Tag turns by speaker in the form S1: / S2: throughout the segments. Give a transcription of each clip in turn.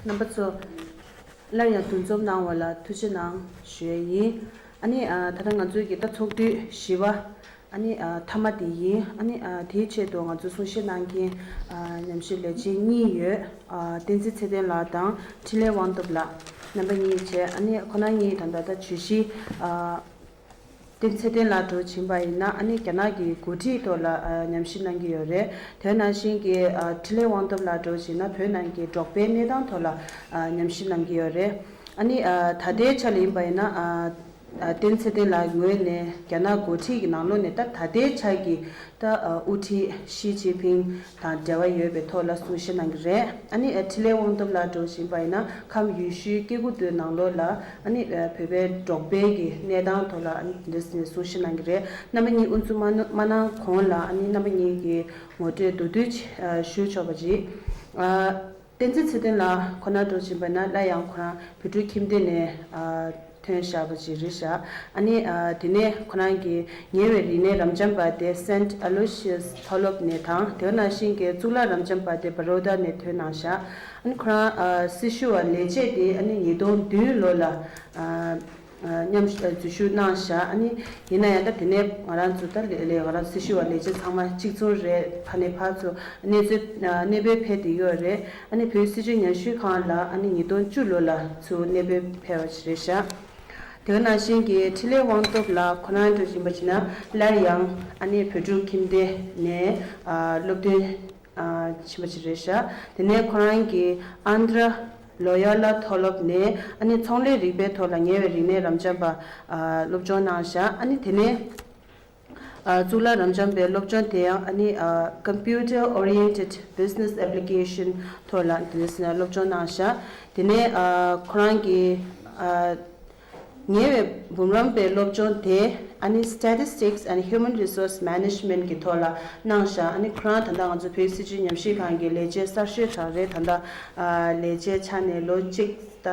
S1: རྣམ་པ་ཚོ། སླར་ཡང་འདུ་འཛོམས་གནང་བ་ལ་ཐུགས་རྗེ་གནང་ཞོའི་ཡིན། ཨ་ནི། ད་ལྟ་ང་ཚོའི་གྱི་རྟ་འཚོགས་དུས་བཞི་བ། ཨ་ནི། ཐ་མ་དེ་ཡིན། ཨ་ནི། དེའི་ཆེད་དུ་ང་ཚོ་གསུང་བཤད་གནང་མཁན། ཉམས་ཞིབ་ལས་བྱེད་གཉིས་ཡོད། བསྟན་འཛིན་ཚེ་བརྟན་ལགས་དང་འཕྲིན་ལས་དབང་ཐོབ་ལགས། རྣམ་པ་གཉིས་བཅས་ཨ་ནི་ཁོ་ན་གཉིས་དང་ད་ལྟ་བྱོས་གཞི། དེ་ཚེ་བརྟན་ལ་གྲོས་བྱིན་པ་ཡིན་ན་ཨ་ནི་རྒྱ་ནག་གི་འགོ་ཁྲིད་ཐོག་ལ་ཉམས་ཞིབ་གནང་གི་ཡོད་རེད་དོན་ནང་བཞིན་གྱི་ཁྲི་ལེན་དབང་ཐོབ་ལ་གྲོས་བྱིན་ན་བོད་ནང་གི་འབྲོག་པའི་གནས་སྟངས་ཐོག་ལ་ཉམས་ཞིབ་གནང་གི་ཡོད་རེད་ཨ་ནི་ད་ལྟའི་ཆ་ལ་ཡིན་པ་ཡིན་ན་བརྟན་ཚེ་བརྟན་ལ་ངོས་ནས་རྒྱ་ནག་འགོ་ཁྲིད་ཀྱི་ནང་ལོག་ནས་ད་ལྟའི་ཆ་གི་ད་དབུ་ཁྲིད་ཞི་ཅིན་ཕིན་དང་འབྲེལ་བ་ཡོད་པའི་ཐོག་ལ་གསུང་བཤད་གནང་གི་རེད། ཨཱ་ནི་ཁྲི་ལས་དབང་སྟོབས་ལ་འགྲོ་བཞིན་པ་ཡིན་ན་ཁམས་ཡུལ་ཤུལ་སྐྱེ་རྒུ་མདོའི་ནང་ལོགས་ལ་ཨཱ་ནི་བོད་པའི་འབྲོག་པའི་གི་གནས་སྟངས་ཐོག་ལ་ཨཱ་ནི་དེ་འདྲ་གསུང་བཤད་གནང་གི་རེད། རྣམ་པ་གཉིས་དབུ་འཛུགས་མ་གནང་གོང་ལ་ཨཱ་ནི་རྣམ་པ་གཉིས་གི་ངོ་སྤྲོད་མདོར་བསྡུས་ཞུ་ཆོག་པ་རེད། བསྟན་འཛིན་ཚེ་བརྟན་ལགས་ཁོ་ན་འགྲོ་བཞིན་པ་ན་སླར་ཡང་ཁོ་རང་བོད་ཕྲུག་ཁྱིམ་སྡེ་ནས་ཐོན་ཞག་པ་ཅིག་རེད་ཞག་ཨ་ནི་དེ་ནས་ཁོ་རང་གི་ཉེ་བའི་རིག་གནས་རམ་འབྱམས་པ་སྡེ Saint Aloysius མཐོ་སློབ་ནས་དང་དེའོ་ན་ཤིང་ཀའི་གཙུག་ལག་རམ་འབྱམས་པ་སྡེ Baroda ནས་ཐོན་གནང་ཞག་ཨ་ནི་ཁོ་རང་སྲི་ཞུ་བ་ལས་བྱས་ཏེ་ཨ་ནི་ཉིས་སྟོང་བདུན་ལོ་ལ་མཉམ་འཛུལ་ཞུ་གནང་བཞག་ཨ་ནི། ཡིན་ན་ཡང་ད་དེ་ནས་ང་རང་ཚོ་ད་ལས་ང་རང་སྲི་ཞུ་བ་ལས་བྱེད་ཚང་མ་གཅིག་མཚུངས་རེད་ཕ་ནས་ཕ་ཚོ་གནས་ཚུལ་གནས་སྤོས་ཕེབས་ཏེ་ཡོད་རེད་ཨ་ནི་བོད་སྲི་ཞུ་ཉར་ཞུས་ཁང་ལ་ཨ་ནི་ཉིས་སྟོང་བཅུ་ལོ་ལ་ཚུ་གནས་སྤོས་ཕེབས་བ་རེད་བཞག་དེ་ག་ནང་བཞིན་གྱི་འཕྲིན་ལས་དབང་ཐོབ་ལགས་ཁོ་རང་འགྲོ་བཞིན་པ་བྱིན་ན་སླར་ཡང་ཨ་ནི་བོད་ཕྲུག་ཁྱིམ་སྡེ་ནས་སློབ་སྟོན་བྱིན་པ་རེད་བཞག་དེ་ནས་ཁོ་རང་གི་ཨནྡྲ། ལོ་ཡར་ལ་མཐོ་སློབ་ནས་ཨ་ནི་ཚོང་ལས་རིག་པའི་ཐོག་ལ་ཉེ་བའི་རིག་གནས་རབ་འབྱམས་པ་སློབ་སྦྱོང་གནང་བཞག་ཨ་ནི་དེ་ནས་གཙུག་ལག་རབ་འབྱམས་པའི་སློབ་སྦྱོང་དེ་ཡང་ཨ་ནི Computer Oriented Business Application ཐོག་ལ་དེ་ནས་སློབ་སྦྱོང་གནང་བཞག་དེ་ནས་ཁོ་རང་གི་ཉེ་བའི་འབུམ་རམས་པའི་སློབ་སྦྱོང་དེ་ཨ་ནི Statistics and Human Resource Management གི་ཐོག་ལ་གནང་ཞིང་ཨ་ནི་ཁོ་རང་ད་ལྟ་ང་ཚོ་བོད་སྲིད་ཇུས་ཉམས་ཞིབ་ཁང་གི་ལས་བྱེད་གསར་ཤོས་དང་རེད་ད་ལྟ་ལས་བྱའི་ཆ་ནས་ལོ་གཅིག་ད་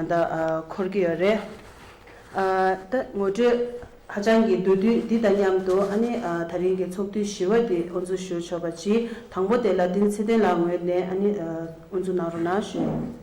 S1: ལྟ་འཁོར་གྱི་ཡོད་རེད། ད་ངོ་སྤྲོད་ཧ་ཅང་གི་འདུག་དུས་འདི་དང་མཉམ་དུ་ཨ་ནི་ད་རིང་གི་ཚོགས་དུས་བཞི་བ་འདི་དབུ་འཛུགས་ཞུ་ཆོག་པ་གཅིག་དང་པོ་དེ་ལ་ཏིང་ཚེ་བརྟན་ལགས་ངོས་ནས་ཨ་ནི་དབུ་འཛུགས་གནང་རོགས་གནང་ཞུ།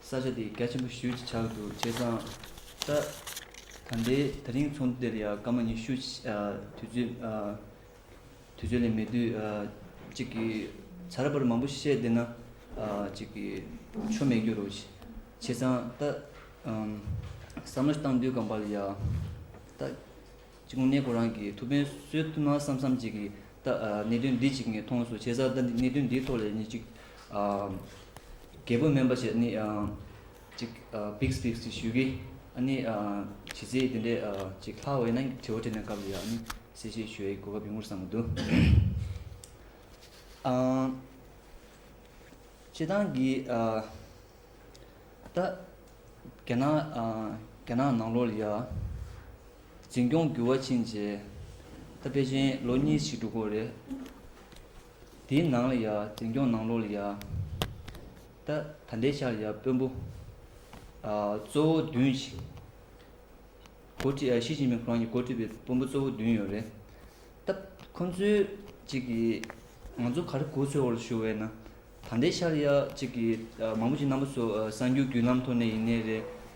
S2: ས་ཆ་དེ་གལ་ཆེན་པོ་ཞུ་ཅི་ཆགས་འདུག་བྱས་ཙང། ད་ད་འདའི་ད་རིང་ཚོགས་འདུ་དེར་ཡང་སྐར་མ་ཉི་ཤུ་དུས་ཚོད་དུས་ཚོད་ལས་མེད་དུས་གཅིག་གི་ཚ་ར་བར་མང་པོ་བཤད་བསྡད་ན་གཅིག་གི་ཆོ་མེད་རྒྱུ་རུ་བྱས་ཙང་ད་བསམ་བློ་བཏང་དུས་སྐབས་འབའ་ལ་ཡང་ད། གཅིག་གོང་གནས་ཁོ་རང་གིས་ཐུགས་ཕན་གསོས་ཐུབ་ན་བསམ་བསམ་གཅིག་གིས་ད་གནད་དོན་འདི་གཅིག་ངས་མཐོང་སོང་བྱས་ཙང་ད་གནད་དོན་འདིའི་ཐོག་ལས་ཉིན་གཅིག་རྒད་པོ་སྨན་པ་ཞེས་ནི་གཅིག་བིགས་བིགས་ཞེས་ཞུས་ཀི་ཨ་ནི་བྱས་ཚེ་དེ་འདྲས་གཅིག་ལྷག་འོད་ན་དྲི་བ་དྲིས་ན་སྐབས་ལ་ཡང་ཨ་ནི་གསལ་བཤད་ཞུ་ཡའི་གོ་སྐབས་ཡོང་ངོ་བསམ་མོ་འདུག་བྱས་ཙང་གི་ད་རྒྱ་ནག་རྒྱ་ནག་ནང་ལོགས་ལ་ཡང། འཛིན་སྐྱོང་འགྱུར་བ་ཕྱིན་རྗེས། ད་པེ་ཅིན་ལོ་གཉིས་ཕྱིན་དྲུག་གོ་རེད། དེའི་ནང་ལ་ཡ་འཛིན་སྐྱོང་ནང་ལོགས་ལ་ཡ། ད་ད་ལྟའི་ཆར་ཡ་དཔོན་པོ། གཙོ་བོ་བདུན་ཞིག། འགོ་ཁྲིད་ཨ་ཞི་ཅིན་ཕིང་ཁོ་རང་གིས་འགོ་ཁྲིད་པའི་དཔོན་པོ་གཙོ་བོ་བདུན་ཡོད་རེད། ད་ཁོང་ཚོའི་གཅིག་གིས་ང་ཚོ་ག་རེ་གོ་ཚོད་བོར་ཞུ་བས་ན། ད་ལྟའི་ཆར་ཡ་གཅིག་གིས་མང་པོ་ཅིག་རྣམ་པ་ཚོ་གསར་འགྱུར་བརྒྱུད་ལམ་ཐོག་ནས་ཡིན་ནའི་རེད།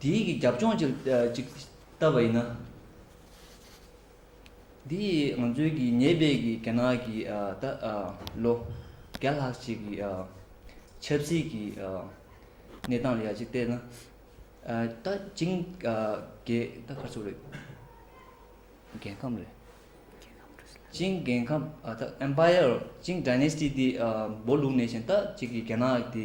S2: དེ་ཡིག་གི་རྒྱབ་ལྗོངས་ཅིག་བལྟ་བ་ཡིན་ན། འདི་ཡིག་ང་ཚོའི་གི་ཉེ་བའི་གི་རྒྱ་ནག་གི་ད་ལོ་བརྒྱ་ལྷག་ཅིག་གི་ཆབ་སྲིད་ཀྱི་གནས་སྟངས་ལ་ཡག་ཅིག་བལྟས་ན། ད་ཅིང་རྒྱའི་ད་གར་ཚུགས་རེད། རྒྱལ་ཁམས་རེད། ཅིང་རྒྱལ་ཁམས་ད Empire ཅིང Dynasty དེ་སྦོ་ལུགས་ནས་བཞིན་ད་ཅིག་གི་རྒྱ་ནག་དེ།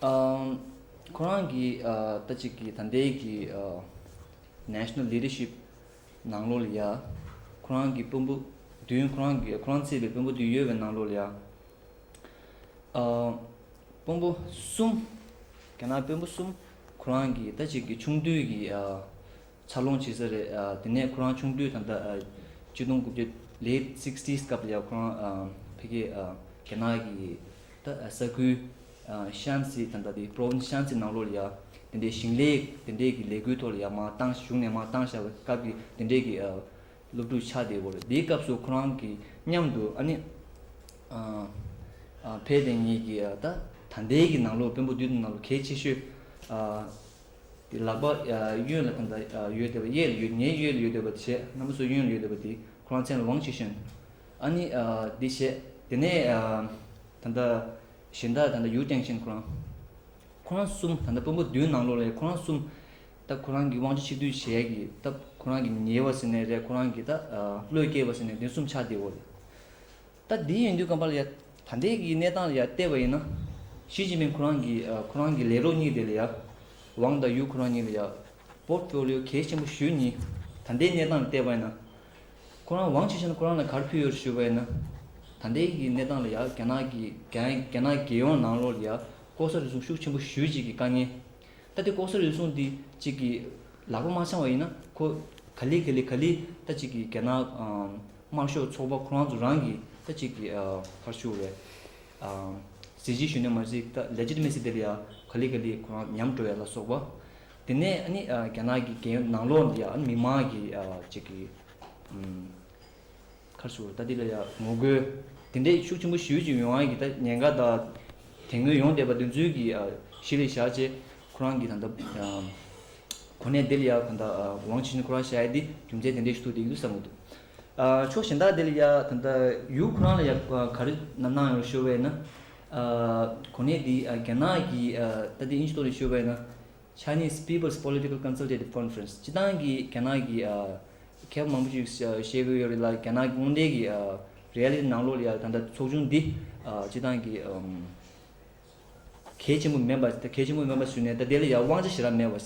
S2: ཁོ་རང་གིས་ད་ཅིག་གི་ད་ལྟའི་གི National Leadership ནང་ལོགས་ལ་ཡ། ཁོ་རང་གི་དཔོན་པོ་བདུན་ཁོ་རང་གི་ཁོ་རང་བརྩིས་པའི་དཔོན་པོ་བདུན་ཡོད་པའི་ནང་ལོགས་ལ་ཡ། དཔོན་པོ་གསུམ་རྒྱ་ནག་དཔོན་པོ་གསུམ་ཁོ་རང་གིས་ད་ཅིག་གི་ཆུང་དུས་ཀྱི་འཚར་ལོངས་བྱེད་ས་རེད། དེ་ནས་ཁོ་རང་ཆུང་དུས་དང་ཐོག་བཅུ་དང་དགུ་བརྒྱ། Late Sixties། སྐབས་ལ་ཁོ་རང་ཕེབས་སྐད། རྒྱ་ནག་གི་ས་ཁུལ། Shanxi། དང་ཐོག Province Shanxi ནང་ལོར་ལ་དེ་འདྲའི་ཞིང་ལས་དེ་འདྲས་ཀྱི་ལས་འགུལ་ཐོག་ལ་ཡང་མང་བཏང་ཞུགས་ནས་མང་བཏང་བཞག་པའི་སྐབས་ཀྱི་དེ་འདྲས་ཀྱི་སློབ་ཕྲུག་ཆགས་བསྡད་བོར་དེའི་སྐབས་སུ་ཁོ་རང་གི་མཉམ་དུ་ཨ་ནེ། ཕའེ་ལྡན་གཉིས་ཀྱིས་ད་ལྟའི་གི་ནང་ལོར་དཔོན་པོ་བདུད་དང་ནང་ལོ་གལ་ཆེ་ཤོས། དེ་ལག་པ་གཡོན་ལ་དང་དང་ཡོད་བསྡད་པ་གཡས་ལ་ཡོད་ངས་གཡོས་ལ་ཡོད་བསྡད་པ་བྱས་ང་མི་སུ་གཡོན་ལ་ཡོད་བསྡད་པ་དེ་ཁོ་རང་ཚན་ལ་ཝང་ཆི་ཧྲན་ཨ་ནི་དེ་བྱས་དེ་ནས་ད་ལྟ་གཞན་དག་ད་ལྟ་ཡུའུ་ཀྲེང་ཞན་ཁོ་རང་ཁོ་རང་གསུམ་ད་ལྟ་དཔོན་པོ་བདུན་ནང་ལོགས་ལས་ཁོ་རང་གསུམ་ད་ཁོ་རང་གི་ཝང་ཆི་ཆིག་བསྡུས་བྱས་ཀྱི་སྟབས་ཁོ་རང་གི་ཉེ་བ་ཟེར་ནས་རེད་ཁོ་རང་གི་ད་བློས་སྐྱེས་པ་ཟེར་ནས་དེ་གསུམ་ཆགས་བསྡད་འོ་ལེ། ད་དེ་ཡིན་དུས་སྐམ་པ་ལ་ཡང་ད་ལྟའི་གི་གནས་སྟངས་ལ་ཡང་བལྟས་པ་ཡིན་ན། ཞི་ཅིན་ཕིན་ཁོ་རང་གི་ཁོ་རང་གི་ལས་རོགས་གཉིས་དེ་ལ་ཡང། ཝང་དང་ཡུའུ་ཁོ་རང་གཉིས་ལ་ཡང། པོར་ཀྲོ་ལིའོ་གལ་ཆེན་པོ་ཞུས་གཉིས་ད་ལྟའི་གནས་སྟངས་ལ་བལྟས་པ་ཡིན་ན། ཁོ་རང་ཝང་ཆི་ཧྲན་ཁོ་རང་ལ་གར་ཕུལ་ཡོད་རེད་ཞུས་པ་ཡིན་ན། ད་ལྟའི་གི་གནས་སྟངས་ལ་ཡང་རྒྱ་ནག་གི་རྒྱ་ནག་རྒྱལ་ཡོངས་ནང་ལོགས་ལ་ཡང་ལྐོག་ཟ་རུལ་སུངས་ཤུགས་ཆེན་པོ་ཞུས་གཅིག་གི་དཀའ་ངལ། ད་དེ་ལྐོག་ཟ་རུལ་སུངས་འདི་གཅིག་གི་ལག་པ་མ་འཆང་བ་ཡིན་ན་ཁོ་ག་ལི་ག་ལི་ག་ལི་ད་གཅིག་གི་རྒྱ་ནག། དམར་ཤོག་ཚོགས་པ་ཁོ་རང་ཚོ་རང་གིས་ས་གཅིག་གི་བར་ཞུགས་བའི། གཟི་བརྗིད་གཞོན་ནུ་མ་ཟི་ཀ Legitimacy དེ་ལ་ཡང་ག་ལི་ག་ལི་ཁོ་རང་ཉམས་འགྲོ་བའི་ལ་སོགས་པ། དེ་ནས་ཨ་ནི་རྒྱ་ནག་གི་རྒྱལ་ཡོངས་ནང་ལོགས་འདི་ཡང་ཨ་ནི་མི་མང་གི་གཅིག་གི། ཁར་ཞུགས་ད་འདི་ལ་ཡང་ངོ་རྒོལ་དེ་འདྲས་ཤུགས་ཆེན་པོ་ཞུས་ཀྱི་ཡོང་ཨ་གི་ད་ཉེན་ཁ་དང། དེ་སྔོན་ཡོང་བསྡད་པ་དེ་ཚོའི་གི་གཞི་ལས་བཞག་རྗེས་ཁོ་རང་གིས་ད་ལྟ་གོ་གནས་དེ་ལ་ཡང་ད་ལྟ་ཝང་ཆི་ནི་ཁོ་རང་ཞལ་འདི་རྒྱུ་མཚན་དེ་འདྲས་ཞིག་ཐུག་འདུག་བསམ་གྱི་འདུག་ཕྱོགས་གཞན་དག་དེ་ལ་ཡང་ད་ལྟ་ཡུལ་ཁོ་རང་ལ་ཡང་ག་རེ་གནང་ཡོང་ཞོར་བས་ན། གོ་གནས་འདི་རྒྱ་ནག་གི་ད་ལྟའི་དབྱིན་ཇི་ཐོག་ནས་ཤོར་བས་ན། Chinese People's Political Consultative Conference སྤྱི་བཏང་གི་རྒྱ་ནག་གི་མཁས་པ་མང་པོ་ཞིག་བཞེད་དགོས་ཡོད་རེད་ལ་རྒྱ་ནག་གི་དངོས་འབྲེལ་གྱི་རེ་ཡ་ལི་ནང་ལོགས་ལ་ཡང་ད་ལྟ་ཚོགས་ཆུང་འདི་སྤྱི་བཏང་གི། གལ་ཆེན་པོ་མིན་པ། གལ་ཆེན་པོ་མིན་པ་ཟུར་ནས་ད་དེ་ལ་ཡང་དབང་ཆ་ཞེ་དྲག་མེད་པ།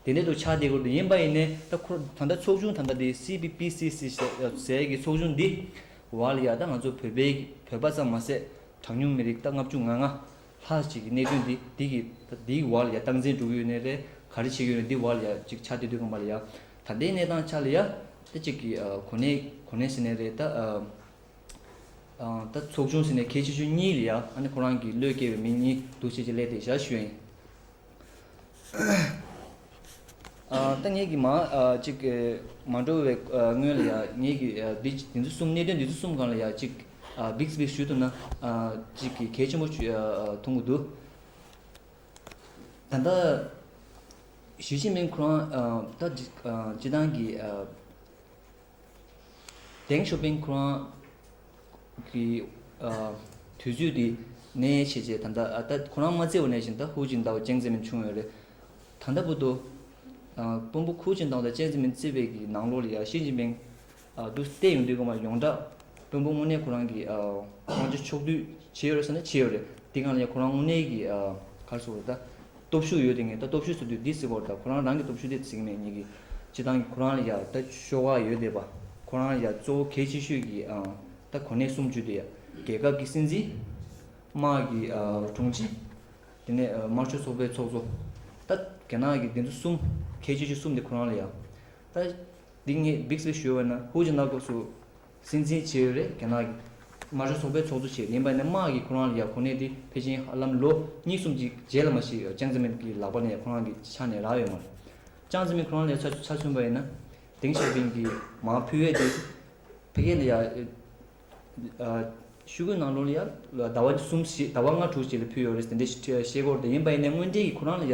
S2: དེ་འདྲའི་དུ་ཆ་དེ་ཁུར་དུ་ཡིན་པ་ཡིན་ནས་ད་ཁོ་ད་ལྟ་ཚོགས་ཆུང་དང་ད་དེ CPPCC ཟེར་ཡས་ཀྱི་ཚོགས་ཆུང་འདི་བར་ལ་ཡང་ད་ང་ཚོ་བོད་པའི་བོད་པ་ཙམ་མ་ཟད་གྲངས་ཉུང་མི་རིགས་ད་ལྔ་བཅུ་ང་ལྔ་ལྷག་ཅིག་གི་གནད་དོན་འདི་འདི་གི་ད་འདི་གི་བར་ལ་ཡང་སྟངས་འཛིན་སྒྲུབ་ཡུལ་ནས་རེ་ག་རེ་བྱེད་ཡུལ་ནས་འདི་བར་ལ་ཡང་ཅིག་ཆ་དེ་དུས་སྐབས་མ་ལ་ཡང་ད་ལྟའི་གནས་སྟངས་ཆ་ལ་ཡང་ད་ཅིག་གི་གོ་གནས་གོ་གནས་ཟེར་ནས་རེ་ད། ད་ཚོགས་ཆུང་ཟེར་ནས་ཁྱེད་ཆེ་ཆུང་གཉིས་ལ་ཡང་ཨ་ནེ་ཁོ་རང་གི་བློས་སྐྱེ་བའི་མི་གཉིས་འདུག་བྱས་ཀྱི་ལས་དེ་བཞག་ཤོད། ད་ངེད་ཀྱི་མ་གཅིག་མ་འགྲོ་བའི་སྔོན་ལ་ཡང་ངེད་ཀྱི་འདི་འདི་ཚོ་གསུམ་གནད་དོན་འདི་ཚོ་གསུམ་གང་ལ་ཡང་གཅིག་འབིགས་སྦིགས་ཞུས་ཐུབ་ན་གཅིག་གི་གལ་ཆེན་པོ་མཐོང་གི་འདུག་ད་ལྟ་ཞི་ཅིན་ཕིན་ཁོ་རང་ད་ཅི་སྟངས་ཀྱི Deng Xiaoping ཁོང་གིས་དུས་ཚོད་དེ་ནས་བྱས་རྗེས་ད་ལྟ་ད་ཁོ་རང་མ་བརྩི་བ་ནས་བཞིན་ད་ཧུའུ་ཅིན་ཏའོ་ཅན་བརྩི་མིན་བྱུང་ཡོད་རེད། ད་ལྟ་བུ་དུ་དཔོན་པོ་ཁུའུ་ཅིན་ཏའོ་དང་ཅན་བརྩི་མིན་བརྩི་བའི་གི་ནང་ལོགས་ལ་ཡང་ཞི་ཅིན་ཕིང་དུ་བལྟས་ཡོང་དུས་ཁོང་མ་ཡོངས་གྲགས་དཔོན་པོ་དངོས་གནས་ཁོ་རང་གི་དབང་ཆ་ཕྱོགས་བསྡུས་བྱས་ཡོད་རེད་བསམ་ན་བྱས་ཡོད་རེད་དེ་གང་ལ་ཡང་ཁོ་རང་དངོས་གནས་ཀྱི་གར་སོང་རེད་ད། སྟོབས་ཤུགས་ཡོད་དེ་ངས་ད་སྟོབས་ཤུགས་ཟེར་དུས་འདི་ཟེར་བར་ད་ཁོ་རང་རང་གི་སྟོབས་ཤུགས་དེ་ཟེར་གྱི་མེད་ཉིད་ཀྱི། སྤྱི་བཏང་གི་ཁོ་རང་ལ་ཡ་ད་ཤོག་ཁག་ཡོད་དེ་བ་ཁོ་རང་ལ་ཡ་གཙོ་བོ་གལ་ཆེ་ཤོས་ཀྱི་ཨང་ད་གོ་གནས་གསུམ་བརྒྱུད་དེ་ཡ་རྒྱལ་ཁབ་ཀྱི་སྲིད་འཛིན། དམག་གི་དྲུང་ཆེ། དེ་ནས་དམར་ཤོག་ཚོགས་པའི་ཚོགས་གཙོ། ད་རྒྱ་ནག་གི་འདི་ཚོ་གསུམ་གལ་ཆེ་ཤོས་གསུམ་དེ་ཁོ་རང་ལ་ཡ། ད་འདི་ངས་འབིགས་པའི་ཞོལ་བས་ན་ཧུའུ་ཅི་ནག་ཐོགས་སུ། སྲིད་འཛིན་ཆེ་རེད་རྒྱ་ནག་གི། མ་གཞུ་ཚོགས་པའི་ཚོགས་གཙོ་ཆེ་ཡིན་པ་ནི་དམག་གིས་ཁོ་རང་ལ་ཡག་གོ་གནས་དེ་ཕལ་ཆེན་ཧ་ལམ་ལོ་གཉིས་གསུམ་གྱི་རྗེས་ལ་མ་ཤི་ཅང་ཙེ་མིན་གྱི་ལག་པ་ནས་ཁོ་རང་གི་ཕྱག་ནས་རག་ཡོད་མ་རེད། ཅང་ཙེ་མིན་ཁོ་རང་ལས་ཆ་ཆ་མཚོན་པ་ཡིན་ན། དེང་ཞའོ་པིན་གྱིས་མང་ཕུལ་བས་དེ། ཕལ་ཁེ་ལི་ཡ། ཤུ་གུའི་ནང་ལོ་ལ་ཡ་ཟླ་བ་གསུམ་བཞི་ཟླ་བ་ལྔ་དྲུག་བྱས་ལ་ཕུལ་ཡོད་རེད་དེ་འདྲའི་ཤེས་སྐོར་དེ་ཡིན་པ་ཡིན་ནའི་དངོས་འབྲེལ་གྱི་ཁོ་རང་ལ་ཡ།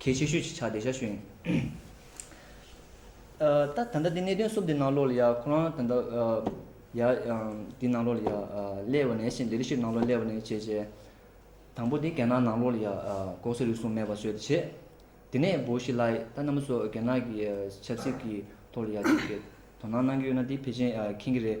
S2: གལ་ཆེ་ཤོས་ཀྱི་ཆ་དེ་ཤ་ཤོད་ཡིན། ད་ད་ལྟ་དེ་གནད་དོན་གསུམ་དེ་ནང་ལོགས་ལ་ཡ་ཁོ་རང་ད་ལྟ་ཡ་དེ་ནང་ལོགས་ལ་ཡ་སླེ་བ་ནས་ཤེས་འདི་རི་ཞིག་ནང་ལོགས་སླེ་བ་ནས་བྱས་བྱས། དང་པོ་དེ་རྒྱ་ནག་ནང་ལོགས་ལ་ཡ་ལྐོག་ཟ་རུལ་སུངས་མེད་པ་བཟོས་ཏེ་བྱས། དེ་ནས་བོ་ཤི་ལའི་ད་ནམ་སོགས་རྒྱ་ནག་གི་ཆབ་སྲིད་ཀྱི་ཐོག་ལ་ཡ་ཅིག་དོ་སྣང་གནང་གི་ཡོད་ན་དེ་ཕལ་ཆེན་ཁེངས་ཀྱི་རེད།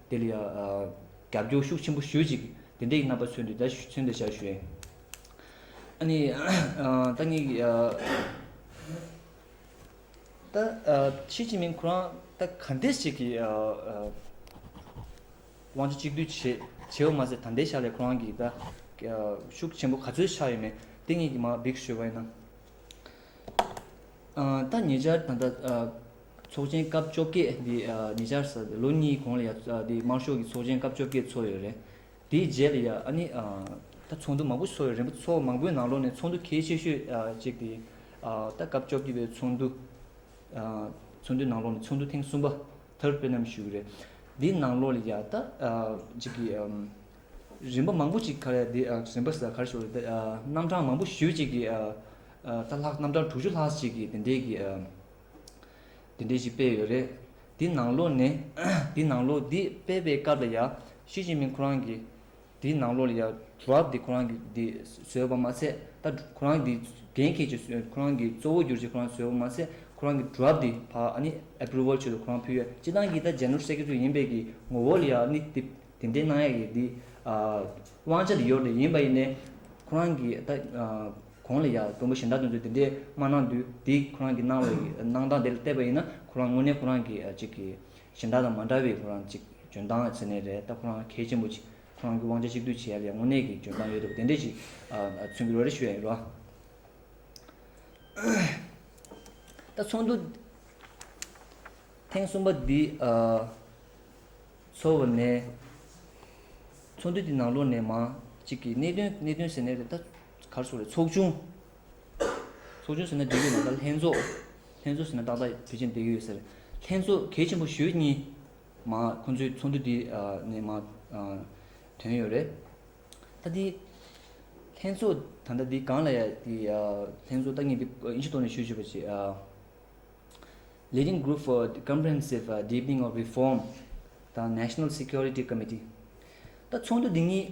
S2: དེ་ལ་རྒྱབ་སྐྱོར་ཤུགས་ཆེན་པོ་ཞུ་ཅིག་དེ་འདྲའི་རྣམ་པ་མཚོན་དུས་ད་ཚུན་དུ་བྱ་ཞོན། ཨ་ནི། ད་ངས། ད་ཞི་ཅིན་ཕིང་ཁོ་རང་ད་ག་འདྲས་ཞིག་གི། དབང་ཆ་གཅིག་སྡུད་བྱེད་བྱེད་པ་མ་ཟད་ད་ལྟའི་ཆ་ལས་ཁོ་རང་གིས་ད། ཤུགས་ཆེན་པོ་ག་ཚོད་ཆགས་ཡོད་མེད་དེ་ངས་ཀྱིས་མ་འབིགས་ཞུས་པ་ཡིན་ན། ད་ཉེ་ཆར་ད་ལྟ། ཚོགས་ཆེན་སྐབས་བཅོ་བརྒྱད་འདི་ཉེ་ཆར་ཟ་ལོ་གཉིས་གོང་ལ་ཡང་དམར་ཤོག་གི་ཚོགས་ཆེན་སྐབས་བཅོ་བརྒྱད་ཚོགས་ཡོད་རེད། དེའི་རྗེས་ལ་ཡང་ཨ་ནི་ད་ཚོགས་འདུ་མང་པོ་ཚོགས་ཡོད་རེད་འབུ་ཚོགས་མང་པོའི་ནང་ལོགས་ནས་ཚོགས་འདུ་གལ་ཆེ་ཤོས་གཅིག་དེ་ད་སྐབས་བཅོ་བརྒྱད་པའི་ཚོགས་འདུ། ཚོགས་འདུའི་ནང་ལོགས་ནས་ཚོགས་འདུ་ཐེངས་གསུམ་པ Third Plenum ཞུས་རེད། དེའི་ནང་ལོགས་ལ་ཡང་ད་གཅིག་གི་རིམ་པ་མང་པོ་གཅིག་ག་རེ་རིམ་པ་ག་རེ་ཞུ་རེད་རྣམ་གྲངས་མང་པོ་ཞུས་གཅིག་གི་ད་ལྷག་རྣམ་གྲངས་དྲུག་ཅུ་ལྷག་ཅིག་གི་དེ་འདྲའི་གི་འདི་འདྲའི་ཞིག་སྤེལ་ཡོད་རེད། འདི་ནང་ལོགས་ནས་འདི་ནང་ལོགས་འདི་སྤེལ་པའི་སྐབས་ལ་ཡང་ཞི་ཅིན་ཕིན་ཁོ་རང་གིས་འདི་ནང་ལོགས་ལ་ཡང་ཇུའབ་འདི་ཁོ་རང་གིས་འདི་བཟོས་པ་མ་ཚད་ད་ཁོ་རང་འདི་འགན་འཁྱེར་ཆེད་བཟོས་ཁོ་རང་གིས་གཙོ་བོ་གྱུར་ཆེད་ཁོ་རང་བཟོས་པ་མ་ཚད་ཁོ་རང་གིས་ཇུའབ་འདི་ཕ་ཨནི Approval ཆེད་དུ་ཁོ་རང་ཕུལ་ཡོད་སྤྱི་བཏང་གིས་ད་ཇེ་ནོར་སྲས་ཁྱེད་ཚོ་ཡིན་པས་ཀྱི་ངོ་བོ་ལ་ཡང་ཨནི་དེ་དེ་འདྲའི་གནང་ཡག་གི་འདི་དབང་ཆ་འདི་ཡོད་རེད་ཡིན་པ་ཡིན་ནས་ཁོ་རང་གིས་ད་གོང་ལ་ཡང་མགྲོན་པོ་གཞན་དག་དོན་ཚོད་འདི་འདྲའི་མ་གནང་དུས་དེ་ཁོ་རང་གིས་གནང་བའི་གནང་སྟངས་དེ་ལ་བལྟས་པ་ཡིན་ན་ཁོ་རང་དངོས་གནས་ཁོ་རང་གི་ཅིག་གིས་གཞན་དག་དང་མ་འདྲ་བའི་ཁོ་རང་ཅིག་འཇོན་སྟངས་ཟེར་ནས་རེད་ད་ཁོ་རང་གལ་ཆེན་པོ་ཅིག་ཁོ་རང་གི་དབང་ཆ་གཅིག་སྡུད་བྱེད་ཡབ་ཡ་དངོས་གནས་ཀྱི་འཇོན་སྟངས་ཡོད་འདུག་དེ་འདྲས་ཅིག་མཚོན་གི་རོ་རེ་ཞུ་ཡ་ཡིན་རོ། ད་ཚོགས་འདུ་ཐེངས་གསུམ་པ་འདི་ཚོགས་པ་ནས་ཚོགས་འདུ་འདི་ནང་ལོགས་ནས་མ་ཅིག་གིས་གནད་དོན་གནད་དོན་ཟེར་ནས་རེད་ད། གར་སོགས་ལས་ཚོགས་ཆུང། ཚོགས་ཆུང་ཟེར་ན་འབྲེལ་ཡོད་ནང་ལྟར་ལྷན་ཚོགས། ལྷན་ཚོགས་ཟེར་ན་ཏག་ཏག་བོད་ཆས་འབྲེལ་ཡོད་ཟེར། ལྷན་ཚོགས་གལ་ཆེན་པོ་ཞོལ་གཉིས། མ་ཁོ་ཚོའི་ཚོགས་འདུ་དེ་ནས་མ། དོན་ཡོད་རེད། ད་དེ། ལྷན་ཚོགས་ད་ལྟ་འདི་གང་ལ་ཡ་དེ། ལྷན་ཚོགས་ལྟ་ངན་དེ་ཨིན་ཆི་ཐོག་ནས་ཞུ་ཞུ་བ་བྱེད། Leading Group for Comprehensive Deepening of Reform དང National Security Committee། ད་ཚོགས་འདུ་འདི་གཉིས།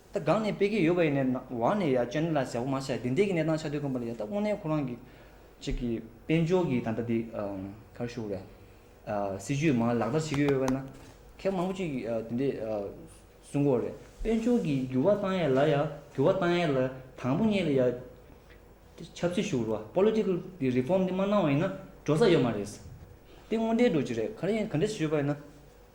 S2: ད་སྒང་ནས་སྤེལ་གྱི་ཡོད་པ་ཡིན་ནའི་བར་ནས་ཡ་ཅོ་ནེ་ལ་ཟེར་བ་མ་ཤ་དེ་འདྲས་ཀྱི་གནས་སྟངས་ཆ་དོད་ཀུན་པ་ལ་ཡ་ད་དབུ་ནེ་ཁོ་རང་གི་གཅིག་གི་དཔལ་འབྱོར་གྱི་ད་ལྟ་དེ་གར་བཞུགས་རེད། སྲིད་ཇུས་མ་ལག་བསྟར་བྱེད་ཀྱི་ཡོད་པས་ན་ཁེག་མང་པོ་གཅིག་དེ་འདྲས་གསུང་གོ་རེད། དཔལ་འབྱོར་གྱི་འགྱུར་བ་བཏང་ཡས་ལ་ཡ་འགྱུར་བ་བཏང་ཡས་ལ་དང་པོ་གཉིས་ལ་ཡ་ཆབ་སྲིད་ཞུགས་རོགས Political དེ Reform དེ་མ་གནང་བ་ཡིན་ན་འགྲོ་ས་ཡོད་མ་རེད། དེ་དངོས་འབྲེལ་འགྲོ་གྱི་རེད་ག་རེ་ཡིན་ག་འདྲས་བྱེད་ཆོད་པ་ཡིན་ན།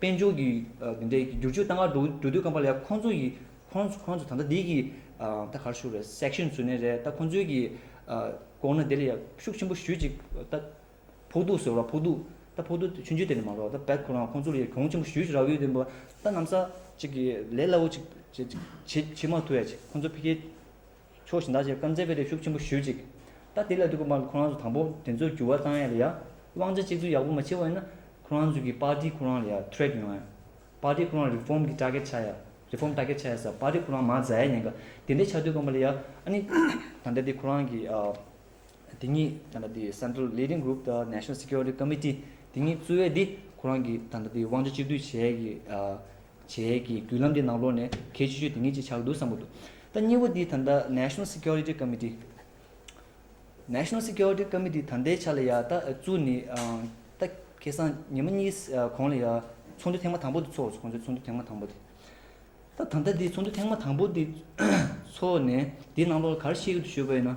S2: དཔལ་འབྱོར་གྱི་འདི་འདྲའི་བསྒྱུར་བཅོས་གཏང་ག་འགྲོ་འགྲོ་དུས་ཀམ་པ་ལའི་ཁོང་ཚོ་ཡི་ཁོང་ཚོ་ཁོང་ཚོ་ད་ལྟ་འདི་གི་ད་གར་ཞུགས་རེད་སེཀ་ཤན་ཟུར་ནས་རེད་ད་ཁོང་ཚོའི་གི་ལྐོག་ན་དེ་ལ་ཡ་ཤུགས་ཆེན་པོ་ཞུས་ཅིག་ད་ཕོག་ཐུག་ཟེར་བ་ཕོག་ཐུག་ད་ཕོག་ཐུག་ཆུན་ཆུན་དེ་ནས་མ་རོག་ད་བད་ཁོ་རང་ཁོང་ཚོ་ལ་ཡ་གྱོང་ཆེན་པོ་ཞུས་ཅིག་ར་བའི་དེ་འབོ་ད་ནམ་ས་ཅིག་གི་ལས་སླ་བོ་ཅིག་བྱེད་ཅིག་བྱེད་བྱེད་མ་ཐུབ་ཡ་ཅིག་ཁོང་ཚོ་ཕི་ཁའི་ཕྱོགས་ཞིང་བདག་ཅེས་བཀའ་སྩལ་པའི་རེ་ཤུགས་ཆེན་པོ་ཞུ་ཅིག། ད་དེ་ལ་དུས་ཀྱི་བར་ལ་ཁོ་རང་ཚོ་དང་པོ་དེ་ཚོ་འགྱུར་བ་བཏང་ཡ་ལ་ཡ། དབང་ཆ་གཅིག་མཚུངས་ཡག་པོ་མ་བྱེད་པ་ཡིན་ན། ཁོ་རང་ཚོ་གི party ཁོ་རང་ལ་ཡ track ཡོང་ཡ། party ཁོ་རང reform གི་སྐྲག་ཁལ་ཆགས་ཡ། reform སྐྲག་ཁལ་ཆགས་ཡ་ས party ཁོ་རང་མ་བཟའ་ཡ་ཡིན་ག། དེ་འདྲའི་ཆགས་དུས་སྐམ་པ་ལ་ཡ། ཨ་ནི། ད་ལྟ་དེ་ཁོ་རང་གི། དེ་གཉིས་ད་ལྟ་དེ Central Leading Group དང National Security Committee དེ་གཉིས་གཙོས་བས་དེ་ཁོ་རང་གི་ད་ལྟ་དེ་དབང་ཆ་གཅིག་སྡུད་བྱས་ཀྱི་བྱས་ཀྱི་བརྒྱུད་ལམ་དེ་ནང་ལོགས་ནས་གལ་ཆེ་ཤོས་དེ་གཉིས་ཅིག་ཆགས་འདུག་བསམ་པོ་འདུག་ད་གཉིས་པོ་དེ་ད་ལྟ National Security Committee National Security Committee ད་ལྟའི་ཆ་ལ་ཡང་ད་བཙུགས་ནས་ད་ཁེ་སང་ཉིན་མ་གཉིས་གོང་ལ་ཡང་ཚོགས་འདུ་ཐེངས་མ་དང་པོ་དེ་ཚོགས་སོང་ཁོང་ཚོའི་ཚོགས་འདུ་ཐེངས་མ་དང་པོ་དེ་ད་ད་ལྟ་དེ་ཚོགས་འདུ་ཐེངས་མ་དང་པོ་དེ་ཚོགས་ནས་དེ་ནང་ལོགས་ལ་ག་རེ་བཤད་ཀྱི་འདུག་ཤོད་པ་ཡིན་ན།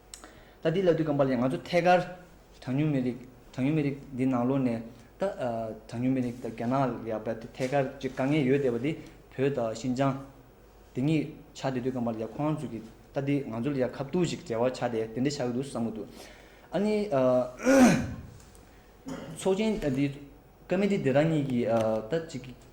S2: ད་དེ་ལས་དུས་སྐམ་པ་ལས་ང་ཚོ་ཐད་ཀར་གྲངས་ཉུང་མི་རིགས་གྲངས་ཉུང་མི་རིགས་འདི་ནང་ལོགས་ནས་ད་གྲངས་ཉུང་མི་རིགས་ད་རྒྱ་ནག་ལ་བལ་ཐད་ཀར་གཅིག་དཀའ་ངལ་ཡོད་བསྡད་པ་དེ་བོད་དང་ཤིན་ཅང་དེ་གཉིས་ཆགས་དེ་དུས་སྐམ་པ་ལས་ཁོང་ཚོས་ཀྱི་ད་དེ་ང་ཚོ་ལ་ཡང་ཁ་བཏུགས་ཤིག་འབྲེལ་བ་ཆགས་དེ་དེ་འདྲ་ཆགས་ཀྱི་འདུག་བསམ་གྱི་འདུག་ཨ་ནི། ཚོགས་ཆེན་དེ་ཀ་མི་ཏི་དེ་རང་ཉིད་ཀྱིས་ད་ཅིག་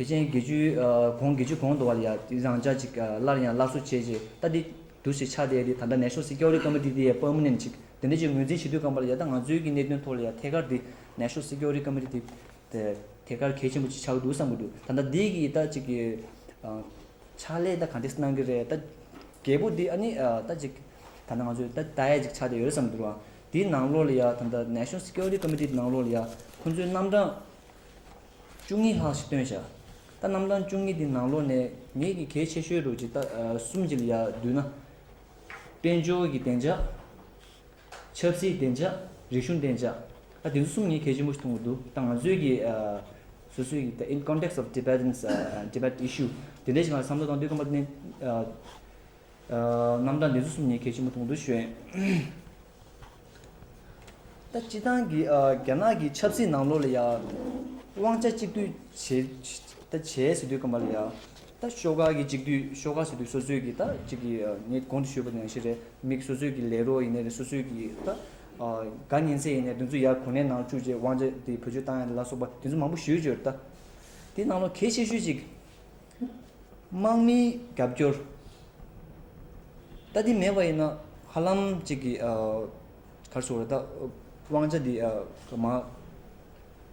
S2: བེ་ཅན་དགེ་བཅུའི་གོང་དགེ་བཅུ་གོང་དུ་བ་ལ་ཡང་དེ་རང་ཅག་ཅིག་སླར་ཡང་སླར་གསོ་བྱེད་ཅེས་ལྟ་འདི་དུ་ཞེས་ཕྱག་འདེབས་ཏེ་ད་ལྟ་ནད་ཤོག་སེར་སྐྱ་འོ་རིགས་སྐམ་པོ་འདི་དེ་ཡི་པདྨོ་ནས་ནི་བྱིན་དེ་འདི་ཅིག་ངོས་འཛིན་བྱེད་དུས་རྐང་པ་ལ་ཡལ་ད་ང་ཚོའི་གི་གནད་དོན་ཐོག་ལ་ཡང་ཐད་ཀར་འདི་ནད་ཤོག་སེར་སྐྱ་འོ་རིགས་སྐམ་པོ་འདི་དེ་ཐད་ཀར་གལ་ཆེན་པོ་ཅིག་ཆགས་ཀྱི་འདུག་བསམ་གྱི་འདུག་ད་ལྟ་འདི་གི་ད་ཅིག་གི་ཕྱག་ལས་ད་ག་འདི་སི་གནང་གི་རེད་ད་རྒྱལ་པོ་འདི་ཨ་ནི་ད་ཅིག་ད་ང་ཚོའི་ད་ད་ཡས་ཅིག་ཆགས་བསྡད་ཡོད་རེད་བསམ་གྱི་འདུག་འདིའི་ནང་ལོགས་ལ་ཡང་ད་ནད་ཤོག་སེར་སྐྱ་འོ་རིགས་སྐམ་པོ་འདི་ནང་ལོགས་ལ་ཡང་ཁོང་ཚོའི་རྣམ་གྲངས། བཅུ་གཉིས་ལྷག་ཞིག་བཏོན་བྱ། རྟ་རྣམས་དང་བཅུ་གཉིས་དེ་ནང་ལོགས་ནས་ངེད་ཀྱི་གལ་ཆེ་ཤོས་རུ་ཇི་ལྟ་གསུམ་གྱི་ལ་བསྡུ་ན། དཔལ་འབྱོར་གྱི་བདེ་འཇགས། ཆབ་སྲིད་བདེ་འཇགས་རིག་གཞུང་བདེ་འཇགས། ཨ་དེ་ཚོ་གསུམ་ངས་གལ་ཆེན་པོ་ཞིག་མཐོང་གི་འདུག་ད་ང་ཚོའི་གི་སོ་སོའི་གི་ད in context of Tibetans Tibet issue དེ་འདྲའི་ཞིག་ལ་བསམ་བློ་བཏང་དུས་ཁམས་པ་རྣམས་དང་དེ་ཚོ་གསུམ་ངས་གལ་ཆེན་པོ་མཐོང་གི་འདུག་བཞོན། ད་སྤྱི་བཏང་གིས་རྒྱ་ནག་གི་ཆབ་སྲིད་ནང་ལོགས་ལ་ཡང་དབང་ཆ་གཅིག་སྡུད་བྱེད། ད་བྱས་ཟེར་དུས་སྐམ་པ་ལ་ཡང་ད་ཤོག་ཁག་གི་གཅིག་སྡུད་ཤོག་ཁག་ཟེར་དུས་སོ་སོས་ཀྱིས་ད་གཅིག་གི་ངས་གོང་དུ་ཞུས་པ་དང་ཡང་ཞིག་རེད་མིག་སོ་སོས་ཀྱིས་ལས་རོགས་ཡིན་ནའི་རེད་སོ་སོས་ཀྱིས་ད་ག་ཉན་སའི་ཡིན་ནའི་དེ་ཚོ་ཡར་གོ་གནས་ནང་བཅུག་རྗེས་དབང་ཆ་དེ་བོད་ཆོས་བཏང་ཡ་ལ་སོགས་པ་དེ་ཚོ་མང་པོ་ཞུས་བྱོས་རེད་ད། དེའི་ནང་ལོགས་གལ་ཆེ་ཤོས་གཅིག། དམག་མིའི་རྒྱབ་སྐྱོར་ལྟ་དེ་མེད་པ་ཡིན་ན་ཧ་ལམ་ཅིག་གིས་གར་སོང་རེད་ད། དབང་ཆ་འདི་ཀ་མ།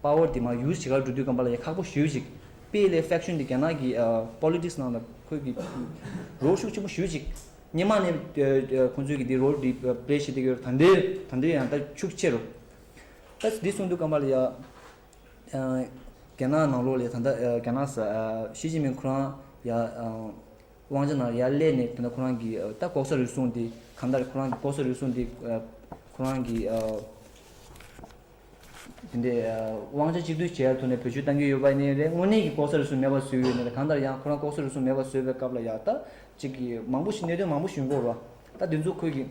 S2: Power དེ་མ use བྱེད་གར་འགྲོ་དུས་ཀ་འབར་ལ་ཡ་ཁག་པོ་ཞུས་ཅིག། དཔེ་ལས Faction དེ་རྒྱ་ནག་གི Politics ནང་ལ་ཁོས་གི་རོགས་ཤུགས་ཆེན་པོ་ཞུས་ཅིག། སྙེ་མ་ནས་ཁོང་ཚོས་གི་འདི་རོགས་འདི Play བྱེད་དེ་གི་ད་འདི་ད་འདི་ཡང་ད་ཕྱུགས་ཆེ་རུ། ད་འདི་གསུངས་དུས་ཀ་འབར་ལ་ཡ། རྒྱ་ནག་ནང་ལོགས་ལས་ད་ལྟ་རྒྱ་ནག་ཞི་ཅིན་ཕིང་ཁོ་རང་ཡ་དབང་ཆ་ནང་ཡར་སླེབས་ནས་ད་ལྟ་ཁོ་རང་གིས་ད་ལྐོག་ཟ་རུལ་སུངས་འདི་གང་ལྟར་ཁོ་རང་གིས་ལྐོག་ཟ་རུལ་སུངས་འདི་ཁོ་རང་གིས་དེ་འདྲའི་དབང་ཆ་གཅིག་བསྡུས་བྱས་ཐོག་ནས་བོད་ཆོས་གཏང་གི་ཡོད་པ་ནི་རེད་དངོས་གནས་ཀྱི་ལྐོག་ཟ་རུལ་སུངས་མེད་པ་བཟོས་ཡོད་ནི་རེད་གང་ལྟར་ཡང་ཁོ་རང་ལྐོག་ཟ་རུལ་སུངས་མེད་པ་བཟོས་པའི་སྐབས་ལ་ཡ་ད་ཅིག་གིས་མང་པོ་ཞིག་གནད་དོན་མང་པོ་ཞིག་འགོག་རོགས་ད་འདི་ཚོ་ཁོས་ཀྱིས།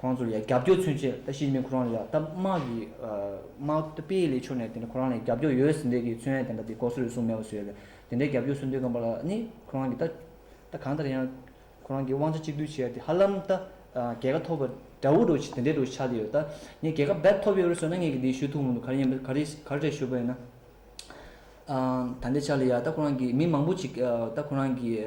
S2: ཁོང་ཚོར་ཡང་རྒྱབ་སྐྱོར་མཚོན་ཆེད་ལྟ་ཞིབ་ནི་ཁོ་རང་ལ་ཡང་ལྟ་དམག་གི་དམག་ལྟ་སྤེལ་ལས་ཕྱོགས་ནས་དེ་འདྲ་ཁོ་རང་ལ་ཡང་རྒྱབ་སྐྱོར་ཡོད་ཟེར་འདོད་ཀྱི་མཚོན་ཡང་དེ་འདྲ་དེ་གོ་སོ་རེ་ཟུང་མེད་པ་བཟོས་ཡོད་དེ་འདྲའི་རྒྱབ་སྐྱོར་མཚོན་འདོད་ཀྱི་འབའ་ལ་ནི་ཁོ་རང་གིས་ལྟ་གང་ལྟར་ཡང་ཁོ་རང་གིས་དབང་ཆ་གཅིག་བསྡུས་བྱས་དེ་ཧ་ལམ་ལྟ་རྒྱལ་ཁ་ཐོབ་པ་འདྲ་བོ་འགྲོ་དེ་འདྲའི་འགྲོ་ཆགས་ཀྱི་ཡོད་ལྟ་ངས་རྒྱལ་ཁ་འབད་ཐོབ་ཡོད་རེད་ཟེར་ན་ངས་ཀྱིས་དེ་ཞུ་ཐུབ་མི་འདུག་ག་རེ་ཡིན་པ་ག་རེ་ག་རེ་རེད་ཞུ་དགོས་ཡིན་ན་ད་ལྟའི་ཆ་ལ་ཡང་ལྟ་ཁོ་རང་གིས་མི་མང་པོ་ཅིག་ལྟ་ཁོ་རང་གིས་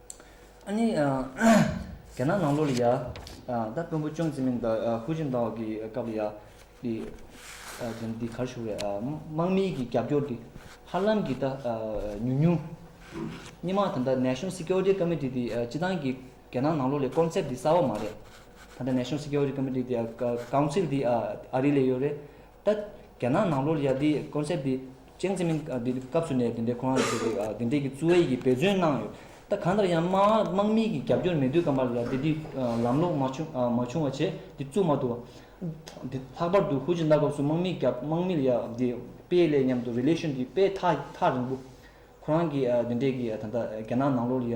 S2: ཨ་ནི། རྒྱ་ནག་ནང་ལོགས་ལ་ཡ། ད་དཔོན་པོ་ཅང་ཙེ་མིན་དང་ཧུའུ་ཅིན་ཏའོ་གི་སྐབས་ལ་ཡ། དེ་རྣམས་འདི་གར་བཞུགས་རེད་ཨ། དམག་མིའི་གི་རྒྱབ་སྐྱོར་འདི། ཧ་ལམ་གི་ད་ཉུང་ཉུང། སྙེ་མ་ད་ལྟ National Security Committee དེ་སྤྱི་བཏང་གི་རྒྱ་ནག་ནང་ལོགས་ལས Concept དེ་གསར་བ་མ་རེད། ད་ལྟ National Security Committee དེ་ཨ། Council དེ་ཨ་རི་ལས་ཡོད་རེད། ད་རྒྱ་ནག་ནང་ལོ་ལེགས་འདི Concept འདི་ཅན་ཙེ་མིན་འདི་སྐབས་སུ་ནས་དེ་འདྲའི་ཁོ་རང་ཚོ་དེ་འདྲའི་གི་བཙུ་ཨེ་གི་འབད་བརྩོན་གནང་ཡོད་ད་གང་ལྟར་ཡང་དམག་དམག་མིའི་གི་རྒྱབ་སྐྱོར་མེད་དུས་སྐབས་མ་ལོ་ལེགས་འདི་འདི་ལམ་ལོག་མ་བྱུང་མ་བྱུང་བ་བྱས་འདི་བཙུགས་མ་ཐུབ་བ་འདི་ལྷག་པར་དུ་ཧུའུ་ཅིན་ཏཱ་སྐབས་སུ་དམག་མིའི་རྒྱབ་དམག་མི་ལ་ཡ་འདི་དཔེ་ལས་མཉམ་དུ Relation འདི་དཔེ་ཐག་ཐག་རིང་པོ་ཁོ་རང་གི་འདི་འདྲའི་གི་ད་ད་རྒྱ་ནག་ནང་ལོ་ལ་ཡ་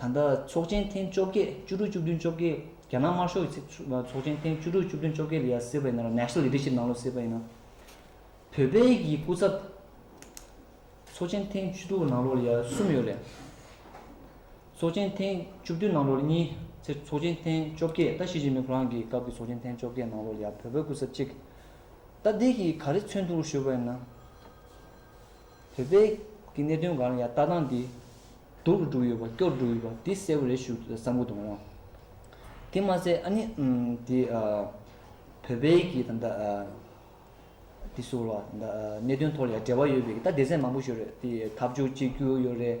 S2: ད་ལྟ་ཚོགས་ཆེན་ཐེངས་བཅོ་བརྒྱད་བཅུ་དྲུག་བཅུ་བདུན་བཅོ་བརྒྱད་རྒྱ་ནག་དམར་ཤོག་གི་ཚོགས་ཆེན་ཐེངས་བཅུ་དྲུག་བཅུ་བདུན་བཅོ་བརྒྱད་ལ་ཡང་སྲིད་པ་ཡིན་ན་རུང National Leadership ནང་ལོགས་སྲིད་པ་ཡིན་ན་བོད་པའི་གི་སྐུ་ཚབ་ཚོགས་ཆེན་ཐེངས་བཅུ་དྲུག་ནང་ལོགས་ལ་ཡང་གསུམ་ཡོད་རེད། ཚོགས་ཆེན་ཐེངས་བཅུ་བདུན་ནང་ལོགས་ལ་གཉིས་ཚེ་ཚོགས་ཆེན་ཐེངས་བཅོ་བརྒྱད་ད་ཞི་ཅིན་ཕིང་ཁོ་རང་གི་སྐབས་ཀྱི་ཚོགས་ཆེན་ཐེངས་བཅོ་བརྒྱད་ནང་ལོགས་ལ་ཡང་བོད་པའི་སྐུ་ཚབ་གཅིག་ད་འདི་གི་ག་རེ་མཚོན་ཐུག་ལ་ཞུས་པ་ཡིན་ན། བོད་པའི་གི་གནད་དོན་གང་ལ་ཡང་ལྟ་སྟངས་འདི། སྡུག་རུ་འགྲོ་ཡོད་པ་སྐྱོ་རུ་འགྲོ་ཡོད་པ་འདི་གསལ་བོ་རེ་ཞུ་བསམ་ཀུ་དོང། དེ་མ་ཟད་ཨ་ནི་འདི་བོད་པའི་གི་ད་ད་འདི་སོགས་ལ་ད་གནད་དོན་ཐོག་ལ་ཡང་འབྲེལ་བ་ཡོད་པའི་ད་སྡེ་ཚན་མང་པོ་ཞིག་རེད་འདི་འཐབ་ཕྱོགས་གཅིག་གྱུར་ཡོད་རེད་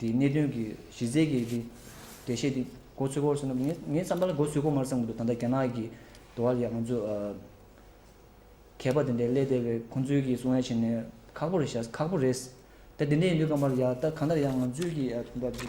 S2: དེའི་གནད་དོན་གྱི་གཞི་རྩའི་གལ་ཆེའི་འགྲེལ་བཤད་དེ་མགོ་ཚོད་སྐོར་ཟེར་ན་ངས་ངའི་བསམ་པ་ལ་མགོ་ཚོད་སྐོར་མར་བསམ་གྱི་འདུག་ད་ལྟ་རྒྱ་ནག་གི་འགྲོ་བ་ལས་ང་ཚོ་མཁས་པ་དེ་འདྲའི་ཀླད་དལ་བའི་ཁོང་ཚོའི་གི་གསུང་ཡ་བྱས་ནས་ཁག་པོ་རེད་བྱ་ཁག་པོ་རེད། ད་དེ་འདྲས་ཡིན་དུས་ཀ་མར་ཡ་ད་གང་ལྟར་ཡང་ང་ཚོའི་གི་ཡ་ཐུགས་འདྲ་གི།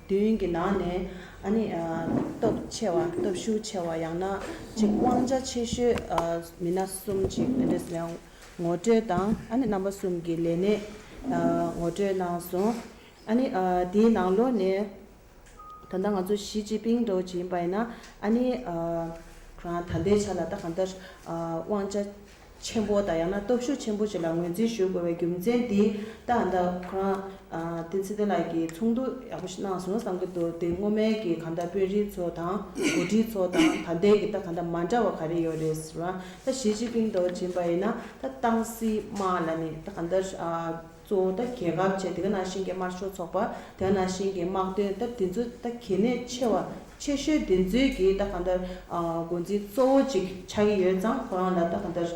S1: དུས་ཡུན་གྱི་ནང་ནས་ཨ་ནི་སྟོབས་ཆེ་བ་སྟོབས་ཤུགས་ཆེ་བ་ཡང་ན་གཅིག་དབང་ཆ་ཆེ་ཤོས་མི་སྣ་གསུམ་གཅིག་ཨན་ཏེ་སི་ངོ་སྤྲོད་དང་ཨ་ནི་རྣམ་པ་གསུམ་གྱི་ལས་གནས་ངོ་སྤྲོད་གནང་སོང། ཨ་ནི་དེའི་ནང་ལོགས་ནས་ད་ལྟ་ང་ཚོ་ཞི་ཅིན་ཕིང་གྲོས་ཀྱི་ཡིན་པ་ཡིན་ན་ཨ་ནི་རང་ད་ལྟའི་ཆ་ལ་ད་གང་ལྟར་དབང་ཆ་ཆེན་པོ་དང་ཡང་ན་སྟོབས་ཤུགས་ཆེན་པོ་ཞིག་ལ་ངོས་འཛིན་ཞུ་དགོས་པའི་རྒྱུ་མཚན་དེ་ལྟར་ད་ཁོ་རང་བསྟན་འཛིན་བསྟན་ལགས་ཀྱིས་ཚོགས་འདུ་ཡག་པོ་ཞིག་གནང་སོང་བསམ་གྱི་འདུག་དེ་སྔོན་མའི་གི་གང་འདྲ་དཔོན་རིགས་ཚོ་དང་གོ་སྒྲིག་ཚོ་དང་ད་ལྟའི་གི་ད་གང་འདྲ་མ་འདྲ་བ་ག་རེ་ཡོད་རེད་ཟེར་བ་ད་ཞི་ཅིན་ཕིང་དང་བྱིན་པ་ཡིན་ན་ད་ཏང་སྲིད་དམག་ལ་ནི་ད་གང་འདྲ་གཙོ་བོ་ད་གལ་འགབ་ཆེ་དེ་ག་ནང་བཞིན་གྱི་དམར་ཤོག་ཚོགས་པ་དེ་ག་ནང་བཞིན་གྱི་དམག་དོན་ད་དེ་ཚོ་ད་གལ་གནད་ཆེ་བ་ཆེ་ཤོས་དེ་ཚོས་གི་ད་ག་འདར་འགོ་འཛིན་གཙོ་བོ་ཅིག་ཆགས་ཀྱི་ཡོད་ཙང་ཁོ་རང་ལ་ད་ག་འདར་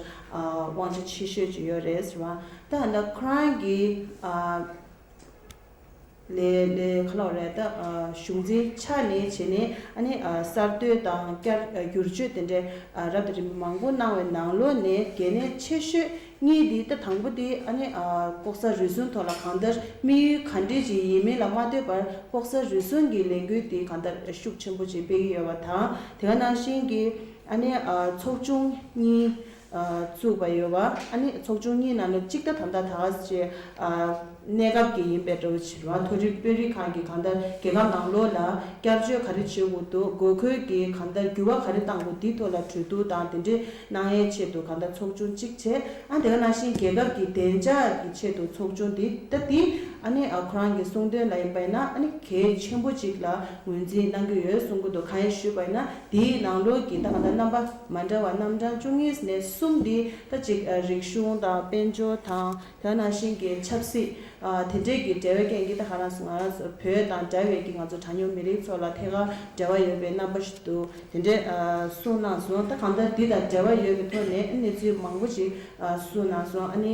S1: དབང་ཆ་ཆེ་ཤོས་ཅིག་ཡོད་རེད་ཟེར་བ་ད་ག་འདར་ཁོ་རང་གི་ལས་ལས་ཁ་ལོག་རེད་ད། གཞུང་འཛིན་ཆ་ནས་བྱས་ནས་ཨ་ནི་གསར་གཏོད་དང་བསྐྱར་བསྒྱུར་བཅོས་དེ་འདྲའི་རབ་དང་རིམ་པ་མང་པོ་གནང་བའི་ནང་ལོ་ནས་གལ་གནད་ཆེ་ཤོས་གཉིས་དེ་ད་དང་པོ་དེ་ཨ་ནི་ལྐོག་ཟ་རུལ་སུངས་ཐོག་ལ་གང་ལྟར་དམིགས་ཡུལ་ག་འདྲས་ཀྱི་ཡིན་མིན་ལ་མ་ལྟོས་པར་ལྐོག་ཟ་རུལ་སུངས་ཀྱི་ལས་འགུལ་དེ་གང་ལྟར་ཤུགས་ཆེན་པོ་ཅིག་སྤེལ་གྱི་ཡོད་པ་དང་དེ་ག་ནང་བཞིན་གྱི་ཨ་ནི་ཚོགས་ཆུང་གཉིས་བཙུགས་པ་ཡོད། ཨ་ནི་ཚོགས་ཆུང་གཉིས་ནང་ནས་གཅིག་ལྟ་དམ་ལྟ་དག་བྱས། གནས་སྐབས་ཀྱི་ཡིན་པའི་འགྲོ་བ་བྱེ་བ་མཐོ་རིམ་དཔོན་རིགས་ཁག་གིས་གང་ལྟར་རྒྱལ་ཁབ་ནང་ལོགས་ལ་བསྐྱར་བཅོས་ག་རེ་བྱེད་དགོས་འདུག་དགོས་མཁོད་ཀྱི་གང་ལྟར་འགྱུར་བ་ག་རེ་བཏང་དགོས་འདི་ཐོག་ལ་གྲོས་བསྡུར་དང་དེ་འབྲེལ་གནང་ཡའི་ཆེད་དུ་གང་ལྟར་ཚོགས་ཆུང་གཅིག་བྱས། ཨ་ནི་དེ་ག་ནང་བཞིན་རྒྱལ་ཁབ་ཀྱི་བདེ་འཇགས་ཀྱི་ཆེད་དུ་ཚོགས་ཆུང་འདི་ལྟ་སྟེ། ཨ་ནི་ཁོ་རང་གི་གསུང་དོན་ལ་ཡིན་པ་ཡིན་ན་ཨ་ནི་གལ་ཆེན་པོ་གཅིག་ལ་ངོས་འཛིན་གནང་གི་ཡོད་གསུང་གི་འདུག་གང་ཡིན་ཞུས་པ་ཡིན་ན་དེའི་ནང་ལོགས་ཀྱི་ད་གང་ལྟར་རྣམ་པ། མ་འདྲ་བ་རྣམ་གྲངས་བཅུ་གཉིས་ནས་གསུམ་འདི་ལྟ་གཅིག་རིག་གཞུང་དང་དཔལ་འབྱོར་དང་བོད་ནང་བཞིན་གྱི་ཆབ་སྲིད། དེ་འདྲས་ཀྱི་འབྲེལ་བའི་སྐད་འདི་ལྟ་ང་རང་ང་རང་བོད་དང་འདྲ་བའི་ཀྱི་ང་ཚོ་གྲངས་ཉུང་མི་རིགས་ཚོ་ལ་ཐད་ཀར་འབྲེལ་བ་ཡོད་པའི་རྣམ་པ་ཞིག་འདུག་དེ་འདྲས་གསུངས་གནང་སོང་ད་གང་ལྟར་འདི་དང་འབྲེལ་བ་ཡོད་པའི་ཐོག་ནས་གནས་ཚུལ་མང་པོ་ཞིག་གསུངས་གནང་སོང་ཨ་ནི།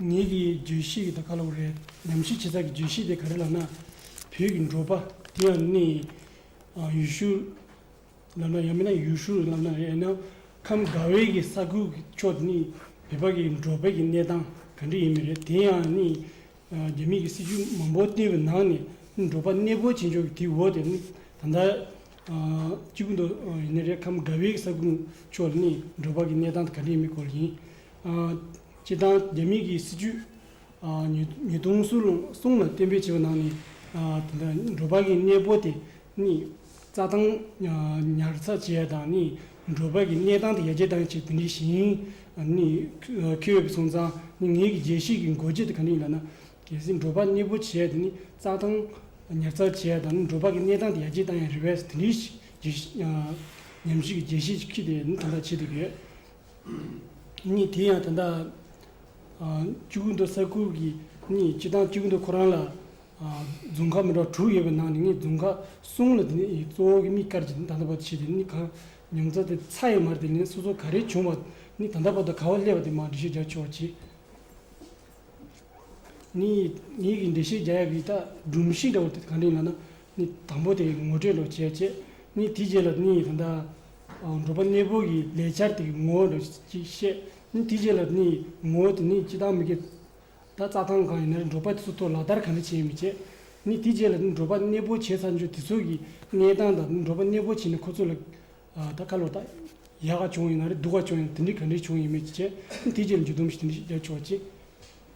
S3: ངེད་ཀྱི་བརྗོད་གཞི་དེ་དག་ག་ལ་བ་རེད། ཉམས་ཞིབ་བྱེད་ས་ཀྱི་བརྗོད་གཞི་དེ་ག་རེ་ལབ་ན། བོད་ཀྱི་འབྲོག་པ་དེ་ཡང་ནི་ཡུལ་ཤུལ་ལབ་ན་ཡང་མིན་ན་ཡུལ་ཧྲུལ་ལབ་ན་ཡང་ཡིན་ན། ཁམས་དགའ་བའི་གི་ས་ཁུལ་གྱི་ཕྱོགས་དེ་ནི་བོད་པ་གི་འབྲོག་པའི་གི་གནས་སྟངས་ག་འདྲ་ཡིན་མི་རེད་དེ་ཡང་ནི། རྒྱ་མིས་གི་སྲིད་ཇུས་མང་པོ་བཏིང་བའི་ནང་ནས་ནི་འབྲོག་པ་གནས་སྤོ་བྱེད་འཇོག་གི་དེའི་འོག་དེ་ནི་ད་ལྟ། གཅིག་པུ་འདུག་ཡིན་ན་རེད་ཁམས་དགའ་བའི་གི་ས་ཁུལ་ཕྱོགས་ནི་འབྲོག་པ་གི་གནས་སྟངས་དེ་ག་འདྲ་ཡིན་མིན་སྐོར་ཡིན། སྤྱི་བཏང་རྒྱ་མིག་གི་སྲིད་ཇུས་ཉིས་སྟོང་གསུམ་ལ་གཏན་འབེབས་བྱས་པའི་ནང་ནས་དེ་འདྲ་འབྲོག་པ་གི་གནས་སྤོ་དེ་ནི་རྩྭ་ཐང་ཉར་ཚགས་བྱས་དང་ནི་འབྲོག་པ་གི་གནས་སྟངས་དེ་ཡར་རྒྱས་གཏང་ཆེད་དེ་འདྲའི་ཞིང་ནི་ཁེ་འོས་སོང་ཙང་ནི་ངེད་ཀྱི་རྒྱལ་སྲིད་ཀྱི་མགོ་ཁྲིད་དེ་ག་ནས་ཡིན་ལབ་ན། གལ་སྲིད་འབྲོག་པ་གནས་སྤོ་བྱས་དེ་ནི་རྩྭ་ཐང་ཉར་ཚགས་བྱས་དང་ནི་འབྲོག་པ་གི་གནས་སྟངས་དེ་ཡར་རྒྱས་གཏང་ཡང་རི་བས་དེ་འདྲའི་ཉམས་ཞིབ་ཀྱི་རྒྱལ་སྲིད་ཅིག་ཁྲིད་དེ་ནི་དེ་འདྲ་བྱེད་ཐུབ་ཡོད། གཉིས་དེ་ཡང་དེ་འདྲ། བཅུ་གུ་འདུག་ས་ཁུལ་གྱི་གཉིས་སྤྱི་བཏང་བཅུ་གུ་འདུག་ཁོ་རང་ལ། རྫུན་ཁ་མི་འདྲ་བ་དྲུག་ཡོད་པའི་ནང་ནས་ངས་རྫུན་ཁ་གསུམ་ལ་དེ་ནས་གཙོ་བོ་གི་མིག་དཀར་གྱི་ད་ལྟ་བར་བྱས་ཏེ་ནི་གང་མྱོང་ཚ་དེ་ཚ་ཡོད་མར་དེ་ལན་སོ་སོ་ག་རེ་བྱུང་བ་ནི་ད་ལྟ་བར་དུ་ག་བ་སླེབས་པ་དེ་མང་འགྲེལ་བཤད་རྒྱག་ཆོག་ཅེས། ངས་ངེད་ཀྱི་འགྲེལ་བཤད་རྒྱག་ཡ་གི་ད་སྒྲུང་གཤིས་འདྲ་བོ་དེ་གང་དྲན་ཡོང་ན། ནི་དང་པོ་དེ་ངོ་སྤྲོད་ལོ་བྱེད་ཅེས་ནི་དེའི་རྗེས་ལ་ནི་ཡི་དམ་དང། འགྲོ་པ་གནས་སྤོ་གི་ལས་བྱར་དེ་ངོ་བོ་ལོ་ཅེས་བཤད། ནི་དེའི་རྗེས་ལ་ནི་ཡི་ངོ་བོ་དེ་ནི་ཅི་ལྟར་མི་དགེ། ད་རྩ་ཐང་གང་ཡིན་ན་འགྲོ་པ་སུ་ཐོ་ལ་ལྟར་གང་འདྲ་བྱེད་མི་བྱེད། ནི་དེའི་རྗེས་ལ་ནི་འགྲོ་པ་གནས་སྤོ་བྱེད་ཚར་འཇུག་དེ་ཚོགས་ཀྱི་གནས་སྟངས་དང་ནི་འགྲོ་པ་གནས་སྤོ་བྱེད་ནི་ཁོ་ཚོ་ལ། ད་བཀའ་ལོ་ད། ཡག་ག་བྱུང་ཡིན་ན་རེ་སྡུག་ག་བྱུང་ཡིན་ན་དེ་འདྲའི་ག་འདྲའི་བྱུང་ཡིན་མོད་ཅེས་བྱས། ནི་དེའི་རྗེས་ལ་འཇུག་སྡོམ་ཞིག་དེ་འདྲའི་ཞིག་རྒྱབ་ཆོག་ཅེས།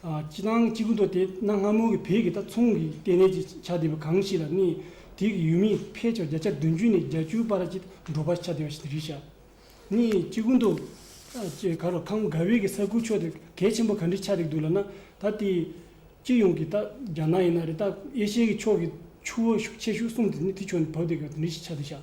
S3: སྤྱི་དང་སྤྱི་ཀུན་ཏུ་དེ་གནའ་སྔ་མོ་གི་བོད་ཀྱི་རྟ་ཚུང་གི་ལྟེ་གནས་ཀྱི་ཆ་དེ་བས་གང་ཞིག་ལ་གནས། དེ་གི་ཡུལ་མིས་ཕལ་ཆེར་བརྒྱ་ཆ་བདུན་ཅུ་ནས་བརྒྱ་ཅུའི་བར་གྱི་འབྲོག་པ་ཆ་དེ་བ་ཞིག་རིགས་བྱ། ནི་སྤྱི་ཀུན་ཏུ། ཅེས་ག་རོ་ཁམས་ག་བེ་གི་ས་ཁུལ་ཕྱོགས་དེར་གལ་ཆེན་པོ་ག་འདྲི་ཆ་རིགས་འདུག་ལ་ན་ད་ལྟའི་སྤྱི་ཡོངས་ཀྱི་རྟ་རྒྱ་ནག་ཡིན་ན་རི་རྟ་ཨེ་ཤེ་ཡའི་ཕྱོགས་ཀྱི་ཆུ་བོ་ཤུགས་ཆེ་ཤུགས་གསུམ་དེ་ནི་དེ་ཕྱོགས་ནས་བབས་ཏེ་ག་འདྲི་ཆ་དེ་བྱ།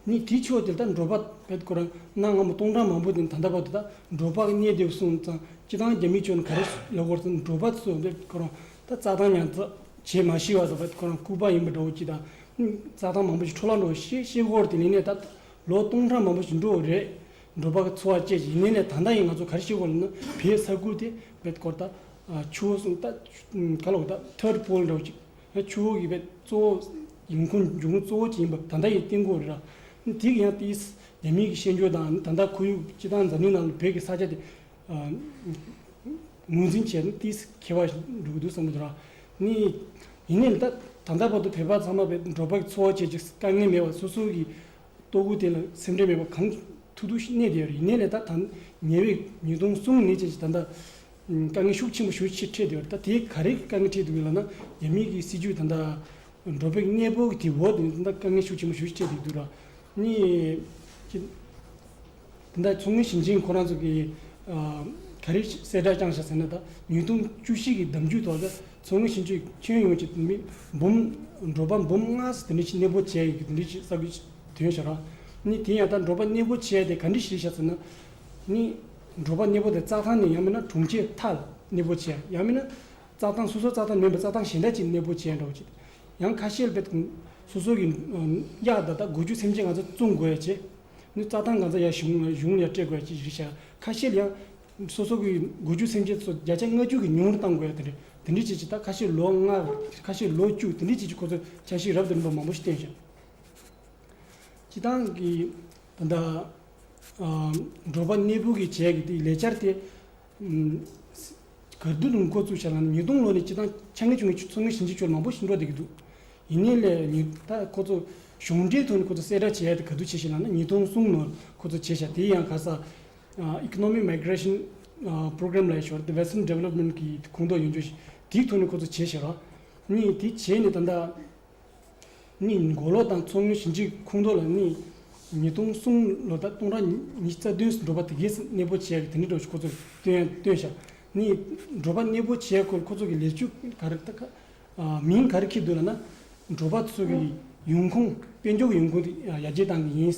S3: ནི་དེའི་ཕྱོགས་དེ་དག་འགྲོ་བ་བས་དགུ་རང་གནག་སྔ་མོ་སྟོང་ཕྲག་མང་པོ་དེ་དང་འདྲ་བ་དེ་དག་འགྲོ་བ་རྙེད་བདེ་བ་གསུངས་ཙང་སྤྱི་དང་རྒྱ་མི་ཆོས་ནི་ག་རེ་ལས་དགོར་ཙམ་འགྲོ་བ་སོགས་བས་དགུ་རང་ད་རྩྭ་ཐང་ཉར་ཚགས་བྱས་མ་ཤི་བ་སོགས་བས་དགུ་རང་སྐུ་པར་ཡིན་པ་འགྲོ་བ་སྤྱི་དང་རྩྭ་ཐང་མང་པོ་ཞིག་འཕྲོ་བརླག་འགྲོ་བ་ཤི་ཤི་སྒོར་དེ་ལས་ནས་ད་ལོ་སྟོང་ཕྲག་མང་པོ་ཞིག་འགྲོ་བ་རེད། འགྲོ་བ་འཚོ་བ་སྐྱེལ་ཞིང་ལས་ནས་ད་ལྟ་ཡིན་ང་ཚོ་ག་རེ་ཤི་སྒོར་ལ་ན་བའི་ས་ཁུལ་དེ་བས་དགུར་ད་ཆུ་བོ་གསུམ་ད་ག་ལོག་ད་ཐོད་པོ་འགྲོ་བ་ཅིག། ཡང་ཆུ་བོ་ཡོད་པའི་གཙོ་བོ་ཡུལ་ཁོངས་འབྱུང་ཁུངས་གཙོ་བོ་ཅན་ཡིན་པ་ད་ལྟ་ཡི་སྟེང་སྐོར་རེད་ལ། དེ་གི་ཡང་ཏིའི་རྒྱ་མིའི་གི་ཤེས་འཇོན་དང་ད་ལྟ་ཁོར་ཡུག་སྤྱི་དང་འཛམ་གླིང་ནང་བོད་ཀྱི་ས་ཆ་དེ་ངོས་འཛིན་བྱས་ན་ཏིའི་ཁེ་བ་འགྲུབ་གི་འདུག་བསམ་གྱི་འདུག་ལ། ཡིན་ནའི་ད་ལྟ་བར་དུ་བོད་པ་ཚང་མ་བའི་འབྲོག་པ་འཚོ་བ་བྱེད་ཀྱི་དཀའ་ངལ་མེད་པར་སོ་སོ་གི་ལྟོ་གོས་དེ་ལ་སེམས་ཁྲལ་མེད་པར་གང་ཐུག་ཐུག་གནས་བསྡད་ཡོད་རེད་ཡིན་ནའི་ད་ཉེ་བའི་ཉིས་སྟོང་གསུམ་ཉེ་བཅས་ཀྱི་ད་ལྟ་དཀའ་ངལ་ཤུགས་ཆེན་པོ་ཞུ་ཕྱིར་ཁྲིད་འདོད་ད་དེ་ག་རེ་དཀའ་ངལ་ཁྲིད་འདུག་ལ་ན་རྒྱ་མི་གི་སྲིད་ཇུས་ད་ད་འགྲོ་བའི་གནས་བབ་ཀྱི་དེ་འོག་ཏུ་ད་དཀའ་ངལ་ཤུགས་ཆེན་པོ་ཞུ་ཕྱིར་ཁྲིད་འདུག་ལ་ནི། ད་མཚོ་སྔོན་ཞིང་ཆེན་ཁོ་རང་ཚོ་གི་ག་རེ་གསལ་བསྒྲགས་རྐྱང་བྱ་ཟེར་ན་ད་ཉིས་སྟོང་བཅུ་བཞི་གི་གདམ་རྒྱུད་ཐོག་ད་མཚོ་སྔོན་ཞིང་ཆེན་ཁྱོན་ཡོངས་ཀྱི་མི་འབུམ་འབྲོག་པ་འབུམ་ལྔ་སོ་དེ་འདྲ་ཞིག་གནས་སྤོ་བྱས་ཡོད་གི་དེ་འདྲ་ཞིག་གསར་འགོད་དོན་བྱ་ར་ནི་དེ་ཡང་ད་འབྲོག་པ་གནས་སྤོ་བྱས་ཏེ་ག་འདྲ་ཞིག་རེད་བྱ་ཟེར་ན་ནི། འབྲོག་པ་གནས་པོ་དེ་རྩྭ་ཐང་ནས་ཡང་མིན་ན་གྲོང་ཁྱེར་མཐའ་ལ་གནས་པོ་བྱས་ཡང་མིན་ན་རྩྭ་ཐང་སོ་སོ་རྩྭ་ཐང་མིན་པའི་རྩྭ་ཐང་གཞན་དག་ཅིག་གནས་པོ་བྱས་འགྲོ་ཅིག་ཡང་ཁ་ཤེལ་བེད་སོ་སོ་གི་གཡག་དག་དག་དགུ་བཅུ་སེམས་ཅན་གང་ཚ་བཙོང་དགོས་ཡ་ཅེས་ནི་རྩྭ་ཐང་གང་ཚ་ཡ་གཞུང་གཞུང་ལ་སྤྲད་དགོས་ཡ་ཅེས་རིགས་བྱ་ཁ་ཤེལ་ཡང་སོ་སོ་གི་དགུ་བཅུ་སེམས་ཅན་སོ་བརྒྱ་ཆ་ལྔ་བཅུ་གི་ཉུང་རུ་བཏང་དགོས་ཡ་དེ་འདྲས་དེ་འདྲས་བྱས་ཅིག་ད་ཁ་ཤེལ་ལོ་ལྔ་ཁ་ཤེལ་ལོ་བཅུ་དེ་འདྲས་བྱས་ཅིག་ཁོ་ཚོས་བྱ་ཞིག་རབ་ཏུ་རིམ་པ་མང་པོ་ཞིག་བསྟན་བྱ་ཅི་ཐང་གི། དང་འདྲ། འབྲོག་པ་གནས་སྤོས་ཀྱི་བྱས་ཀྱི་ལས་འཆར་དེ། གར་བསྡུ་ལུང་འཁོར་བཙུགས་བྱས་ལ་ཉིས་སྟོང་ལོ་ནས་སྤྱི་བཏང་ཆ་ངེས་བྱུང་གི་མཚོ་སྔོན་ཞིང་ཆེན་ཕྱོགས་ལ་མང་པོ་ཞིག་འགྲོ་བསྡད་ཀྱི་འདུག་ཡིན་ནའི་ལས་ལུས་ད་ཁོ་ཚོ་གཞུང་འབྲེལ་ཐོག་ནས་ཁོ་ཚོ་གསལ་བསྒྲགས་བྱས་ཏེ་གར་བསྡུ་བྱས་ཤིང་ལགས་ན་ཉིས་སྟོང་གསུམ་ནོར་ཁོ་ཚོ་བྱས་ཤག་དེ་ཡང་ག་ས Economic Migration Program ལའི་ཞོར་དུ Western Development གྱི་ཁོངས་གཏོགས་ཡོང་ཆོག་ཞིག་དེའི་ཐོག་ནས་ཁོ་ཚོ་བྱས་ཤག་རོགས་གཉིས་དེ་བྱས་ནས་ད་ལྟ། གཉིས་མགོ་ལོག་དང་མཚོ་སྔོན་ཞིང་ཆེན་ཁུངས་གཏོགས་ལ་གནས། ཉིས་སྟོང་གསུམ་ལོ་ཟླ་སྟོང་ར་ཉིས་རྩ་བདུན་སུ་འགྲོ་པ་དེ་གས་གནས་སྤོ་བྱས་ཀྱི་དེ་འདྲི་འགྲོ་ཞུ་ཁོ་ཚོར་སྟོན་ཡང་སྟོན་བཞག་གཉིས་འགྲོ་པ་གནས་སྤོ་བྱས་ཁོ་ཚོ་གི་ལས་ཆུ་ག་རེ་ཁ་མིང་ག་རེ་འཁྱེར་འདུག་ལ་ན། འགྲོ་པ་ཚོ་གི་ཡོང་ཁུངས་དཔལ་འབྱོར་གྱི་ཡོང་ཁུངས་དེ་ཡ་རྒྱལ་ཏང་གི་ཡིན།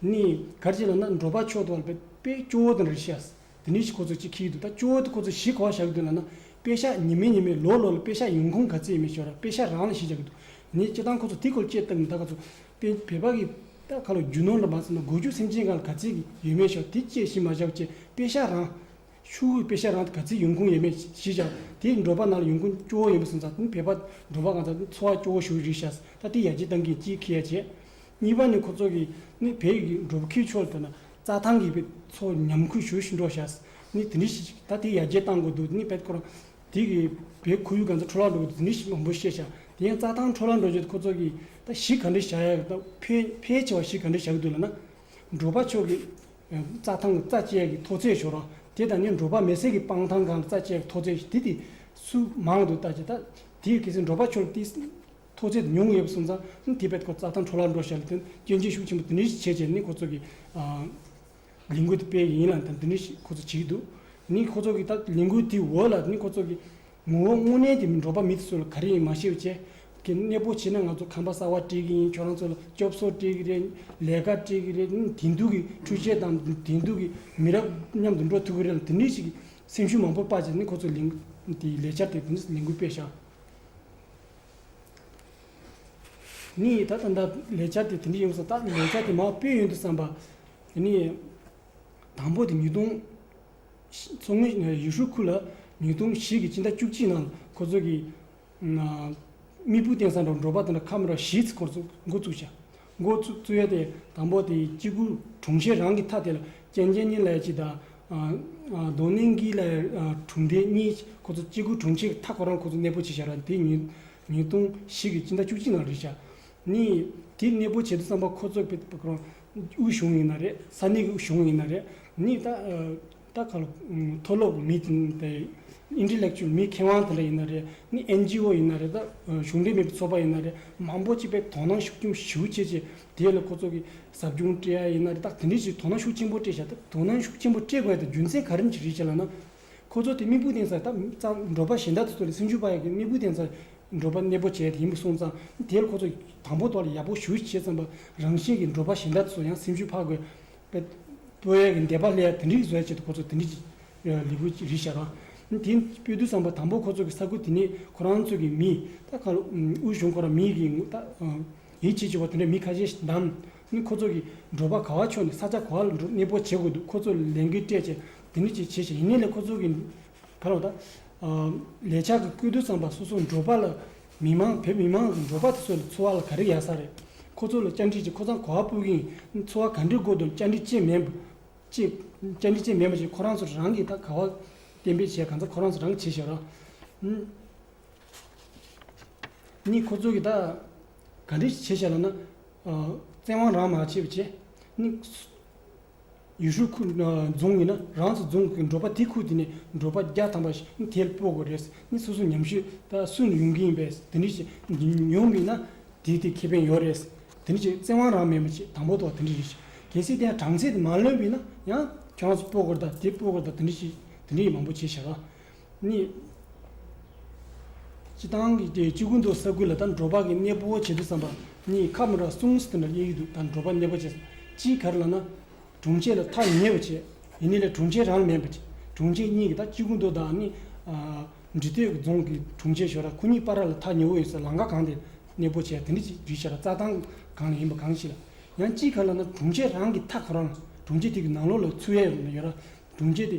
S3: གཉིས་ག་རེ་བྱས་ལ་ན་འགྲོ་པ་ཕྱོགས་གཏོགས་ལ་དཔལ་སྐྱོ་བོ་དང་རེ་བྱས། དེ་ནས་ཕྱིས་ཁོ་ཚོ་གཅིག་ཁེལ་འདུག་ད་སྤྱི་བོ་དེ་ཁོ་ཚོ་གཞིས་གང་བཞག་འདུག་ལ་ན། དཔེ་ཤ་ཉི་མའི་ཉི་མའི་ལོ་ལོ་ལ་དཔེ་ཤ་ཡོང་ཁུངས་ག་ཚད་ཡོད་མེད་ཤོར་ར་དཔེ་ཤ་རང་ལ་གཞིས་བཞག་གི་འདུག་ནས་སྤྱི་བཏང་ཁོ་ཚོ་དེ་སྐོར་དཔྱད་བཏབ་ནས་ད་ག་ཚོད་དཔེ་བེད་པ་གི་ད་ག་ལོ་རྒྱུ་ནོར་ལ་མ་ཚད་ན་སྒོ་རྒྱུ་སེམས་ཅན་གང་ལ་ག་ཚད་ཀྱི་ཡོད་མེད་ཤོར་དེ་དཔྱད་གཞིས་མ་བཞག་བཅས་དཔེ་ཤ་རང། ཤུག་ཧུའི་དཔེ་ཤ་རང་དེ་ག་ཚད་ཡོང་ཁུངས་ཡོད་མེད་གཞིས་བཞག་དེ་འབྲོག་པ་ནང་ལ་ཡོང་ཁུངས་སྤྱི་བོ་ཡོང་པ་སོང་ཙང་དེ་བེད་པ་འབྲོག་པ་གང་ཙང་འཚོ་བ་སྐྱོ་བོ་ཞུ་རིགས་བཞག་ད་དེ་ཡར་རྒྱས་བཏང་གིན་གཅིག་ཁེལ་ཡ་བྱས། གཉིས་པ་ནི་ཁོ་ཚོ་གིས་ནི་བལ་ཡུལ་གྱི་འགྲོ་བུ་ཁིའུ་ཆོལ་དུ་ན་རྩྭ་ཐང་གི་བལ་ཚོ་ཉམས་ཁུལ་ཞུ་བཞིན་འགྲོ་ཞེས་ནི་དེ་འདྲི་ཞིག་བྱེད་ད་དེ་ཡར་རྒྱས་བཏང་དགོས་འདུག་ནི་བལ་ཁོ་རང་དེ་གི་བལ་ཁོར་ཡུག་ག་ཚོད་འཕྲོ་བརླག་འགྲོ་གི་འདུག་འདི་ཞིག་མང་པོ་ཤེས་བྱ་དེ་ཡང་རྩྭ་ཐང་འཕྲོ་བརླག་འགྲོ་རྗེས་ཁོ་ཚོ་གིས་ད་གཞི་ག་འདྲི་བྱ་ཡག་ད་ཕལ་ཕལ་ཆེ་བ་གཞི་ག་འདྲི་བྱ་གི་འདུག་ལ་ན། འབྲོག་པ་ཕྱོགས་ཀྱི་རྩྭ་ཐང་གི་རྩ་དཔྱད་ཀྱི་མཐོ་ཚད་ཞོར་རང་དེ་དང་ནི་འབྲོག་པ་མེ་སྲེག་གི་སྤང་ཐང་གང་རྩ་དཔྱད་ཀྱི་མཐོ་ཚད་དེ་དེ་སུ་མང་འདུག་ད་ཅེ་ད་དེ་གལ་སྲིད་འབྲོག་པ་ཕྱོགས་ལ་དེ་ཐོག་ཚད་དུ་ཉུང་ངུ་ཡོད་པ་སོང་ཙང་དེ་བས་ཐོག་རྩྭ་ཐང་འཕྲོ་བརླག་འགྲོ་བཞག་ལ་དོན་རྐྱེན་ཅན་ཤུགས་ཆེན་པོ་འདི་འདྲའི་ཞིག་བྱས་རྗེས་ནི་ཁོ་ཚོ་གི་ལས་འགུལ་དེ་སྤེལ་ཡི་ཡིན་ལ་དང་འདི་འདྲའི་ཞིག་ཁོ་ཚོ་བྱེད་ཀྱི་འདུག་དེ་ནི་ཁོ་ཚོ་གི་ད་ལས་འགུལ་དེའི་འོག་ལ་ནི་ཁོ་ཚོ་གི་ངོ་བོ་དངོས་གནས་ཀྱི་འབྲོག་པ་མི་དེ་ཚོ་ལ་ག་རེ་ཡིན་མ་ཤེས་པ་བཅས་ཀྱི་གནས་སྤོ་བྱས་ན་ང་ཚོ་ཁང་པ་གསར་བ་སྤྲད་ཀྱི་ཡིན་ཁྱོད་རང་ཚོ་ལ་སྐྱོབ་གསོ་སྤྲད་ཀྱི་རེད་ལས་ཀ་སྤྲད་ཀྱི་རེད་དེང་དུས་ཀྱི་འཕྲུལ་ཆས་དང་དེང་དུས་ཀྱི་མི་རབས་མཉམ་དུ་འགྲོ་ཐུབ་ཀྱི་རེད་ལ་དེ་འདྲའི་ཞིག་གི་སེམས་ཤུགས་མང་པོ་སྤར་རྗེས་ནི་ཁོ་ཚོ་ལས་འགུལ་དེའི་ལས་འཆར་དེ་དེ་ནི་ལས་འགུལ་སྤེལ་བཞག། ནི་ད་ལྟ་འདའ་ལས་བྱ་སྟེ་དེ་འདྲ་ཡོང་ས་ད་ལས་བྱ་དེ་མ་དཔེ་ཡོན་དུ་བསམ་པ། དེ་ནི་དང་པོ་དེ་ཉིས་སྟོང། མཚོ་སྔོན་ཡུས་ཧྲུའུ་ཁུལ་ལ་ཉིས་སྟོང་བཞི་གི་སྤྱི་ཟླ་བཅུ་གཅིག་ནང་ཁོ་ཚོ་གི། དམིགས་བུ་བསྟན་ས་འགྲོ་འགྲོ་པ་དང་ཁ་མི་ར་བཞིའི་ཚེ་འགོ་བཙུགས་བྱ། མགོ་བཙུགས་ཡོད་དེ། དང་པོ་དེ་སྐྱེ་དགུ་གྲོང་ཁྱེར་རང་གི་མཐའ་དེ་ལ་རྐྱེན་རྐྱེན་གཉིས་ལས་ཀྱི་དང། གདོན་ནི་འགི་ལས་གྲུང་དེ་གཉིས་ཁོ་ཚོ་སྐྱེ་དགུ་གྲོང་ཁྱེར་གྱི་མཐའ་ཁོ་རང་ཁོ་ཚོ་གནས་སྤོ་བྱེད་བྱ་ར་དེ་ཉིས་སྟོང་བཞི་གི་སྤྱི་ཟླ་བཅུ་གཅིག་ནང་རེད་བྱ། ནི། དེ་གནས་སྤོ་བྱེད་དུ་བརྩམས་པ་ཁོ་ཚོ་དབུས་གཞུང་ཡིན་ན་རེད་ས་གནས་ཀྱི་གཞུང་ཡིན་ན་རེད། ནི། ལྟ་ག་ལ། མཐོ་སློབ་མི་དེ། Intellectual མི་མཁས་དབང་དེ་འདྲ་ཡིན་ན་རེད། ནི NGO ཡིན་ན་རེད། གཞུང་འབྲེལ་མིན་པའི་ཚོགས་པ་ཡིན་ན་རེད། མང་པོ་གཅིག་པའི་དོ་སྣང་ཤུགས་ཅུང་ཞིའུ་ཆེ་ཆེ། དེ་ལ་ཁོ་ཚོ་གི་ཟབ་སྦྱོང་སྤྲད་ཡ་ཡིན་ན་རེད་ད་དེ་འདྲའི་ཞིག་དོ་སྣང་ཤུགས་ཆེན་པོ་སྤྲད་བྱ་ཐབས་དོ་སྣང་ཤུགས་ཆེན་པོ་སྤྲད་དགོས་ད་རྒྱུ་མཚན་ག་རིམ་གྱིས་རེད་བྱས་ལ་ན། ཁོ་ཚོ་དེ་དམིགས་བུ་བསྟན་ས་ད་ཙམ་འགྲོ་པ་གཞན་དག་དེ་ཚོ་ལས་སེམས་ཤུགས་པ་ཡག་གི་དམིགས་བུ་བསྟན་ས་འགྲོ་པ་གནས་པོ་བྱས་དེ་ཡིན་པ་སོང་ཙང་དེ་ལ་ཁོ་ཚོ་དང་པོ་ཏོག་ལ་ཡག་པོ་ཞུ་བྱས་ཙམ་པ་རང་བཞིན་གྱི་འགྲོ་པ་གཞན་དག་དེ་ཚོ་ཡང་སེམས་ཤུགས་འཕགས་དགོས་པོའི་འདས་པ་ལས་དེ་འདྲི་བཟོད་བྱེད་དུ་ཁོ་ཚོ་དེ་འདྲི་ལི་བུ་རི་བྱ་རང་དེ་པོའི་དུས་བཟང་པོ་དང་པོ་ཁོ་ཚོ་གི་ས་ཁུལ་དེ་ནི་ཁོ་རང་ཚོ་གི་མི་ད་ཁ་ལོ་དབུས་གཞུང་ཁོ་རང་མི་གི་ཡིན་བྱེད་ཆེ་བ་དེ་འདྲ་མི་ཁ་ཤས་ཤིག་འདམ་ནི་ཁོ་ཚོ་གི་འགྲོ་བ་ག་བ་ཕྱོགས་ནས་ས་ཆ་ག་བ་ལ་འགྲོ་གནས་སྤོ་བྱེད་དགོས་འདུག་ཁོ་ཚོ་ལས་འགན་སྤྲད་བྱས་དེ་འདྲི་བྱས་བྱས་ཤིང་ཡིན་ནས་ལས་ཁོ་ཚོ་གི་བར་བ་ལས་བྱ་གི་པོའི་དུས་བཟང་པ་སོ་སོ་འགྲོ་བ་ལ་མི་མང་བོད་མི་མང་གི་འབྲོག་པ་དེ་ཚོ་ལ་འཚོ་བ་ལ་ག་རེ་ཡག་ས་རེད། ཁོ་ཚོ་ལ་བཅར་འདྲི་བྱེད་ཁོ་ཚང་གོ་བ་སྤུ་གིན་འཚོ་བ་ག་འདྲའི་སྒོ་དུ་བཅར་འདྲི་བྱེད་མེད་པ་ཅེས་བཅར་འདྲི་བྱེད་མེད་པ་ཅེས་ཁོ་རང་ཚོ་རང་གིས་ད་ག་བ་གཏན་འབེབས་བྱས་གང་ས་ཁོ་རང་ཚོ་རང་གིས་བྱས་ཤོག་རོགས་གཉིས་ཁོ་ཚོ་གིས་ད་ག་འདྲའི་བྱས་བྱས་ལབ་ན། བཙན་དབང་རང་མ་བྱས་པ་བྱས། ཡུས་ཧྲུའུ་ཁུལ་རྫོང་ཡིན་ན་རང་ཚོ་རྫོང་གི་འབྲོག་པ་དེ་ཁུལ་དེ་ནས་འབྲོག་པ་བརྒྱ་ཐམ་པ་ཞིག་དེལ་སྤོ་དགོས་རེད་ནི་སོ་སོ་ཉམས་ཞིབ་སུ་ནས་ཡོང་གི་ཡིན་པས་དེ་འདྲི་ཞིག་ཡོང་མིན་ན་དེ་དེ་ཁེ་ཕན་ཡོད་རེད་དེ་འདྲི་ཞིག་བཙན་དབང་རང་མེད་པ་ཆེས་དང་པོ་ཐོག་དེ་འདྲི་རེད་ཞིག་གལ་སྲིད་དེ་གྲངས་ཚད་དེ་མ་ལོན་པིན་ན་ཡང་ཁྱོད་རང་ཚོ་སྤོ་དགོས་རེད་ད་དེ་སྤོ་དགོས་རེད་ད་དེ་འདྲི་ཞིག་དེ་འདྲི་ཡིག་མང་པོ་བྱེད་ཤག་གཉིས། སྤྱི་བཏང་གི་སྐྱེ་རྒུ་མདོ་ས་ཁུལ་ལ་ད་འགྲོ་བག་གི་གནས་སྤོ་བོ་བྱེད་དུ་བསམ་པ། གཉིས་ཁ་མོ་ར་སུང་སི་ཐན་ར་གཡས་ཀྱི་དུ་ད་འགྲོ་བག་གནས་སྤོ་བྱེད་བསམ། སྤྱིའི་གར་ལ་ན། དྲུང་ཆེ་ལ་ཐག་ཉེ་བོ་བྱེད། ཡིན་ནི་ལས་དྲུང་ཆེ་རང་མེད་པ། དྲུང་ཆེ་གཉིས་ཀྱི་ད་སྐྱེ་རྒུ་མདོ་དང་ནི། འབྲི་སྟོད་ཀྱི་རྫོང་གི་དྲུང་ཆེ་ཞོ་ར་ཁོ་གཉིས་པ་ར་ལ་ཐག་ཉེ་བོ་ཡོད་ས་ལང་ཀ་གང་དེ་གནས་སྤོ་བྱེད་དེ་འདྲ་ཅིག་བརྒྱུད་བྱེད་ར་རྩ་ཐང་གང་ལ་ཡིན་པ་གང་ཞིག་ལ། ཡང་སྤྱིའི་གར་ལ་ན་དྲུང་ཆེ་རང་གི་ཐག་གོ་རང་ལ་དྲུང་ཆེ་དེ་གི་ནང་ལོགས་ལ་ཚུ་ཡས་ཡོད་ར་དྲུང་ཆེ་དེ་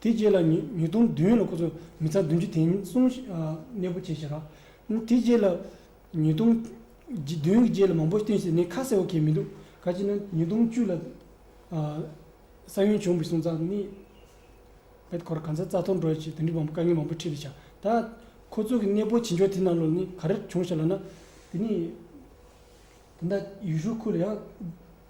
S3: དེ་རྗེས་ལ་ཉིས་སྟོང་བདུན་ལ་ཁོ་ཚོ་མི་ཚང་བདུན་ཅུ་དེ་ཉིན་སྲུང་གནས་སྤོ་བྱས་ཤག་དེ་རྗེས་ལ་ཉིས་སྟོང་བདུན་གྱི་རྗེས་ལ་མང་པོ་བསྟུན་བྱས་ནས་ཁ་གསལ་བོ་གས་མི་འདུག་ག་ཅིག་ན་ཉིས་སྟོང་བཅུ་ལ་ས་ཡོན་བྱུང་བའི་སྲུང་ཙག་ནི་བེད་ཁོ་ར་གང་ཚ་རྩ་ཐོར་འགྲོ་ཡ་ཆེ་དེ་འདྲི་བ་དཀའ་ངལ་མང་པོ་འཕྲད་དུ་ཤག་ད་ཁོ་ཚོ་གི་གནས་སྤོ་བྱེད་འཇོག་དེ་རྣམས་ལོ་ནི་ག་རེ་བྱུང་ཤག་ལ་ན་དེ་ནི་དེ་འདྲ་ཡུས་ཧྲུའུ་ཁུལ་ལ་ཡང།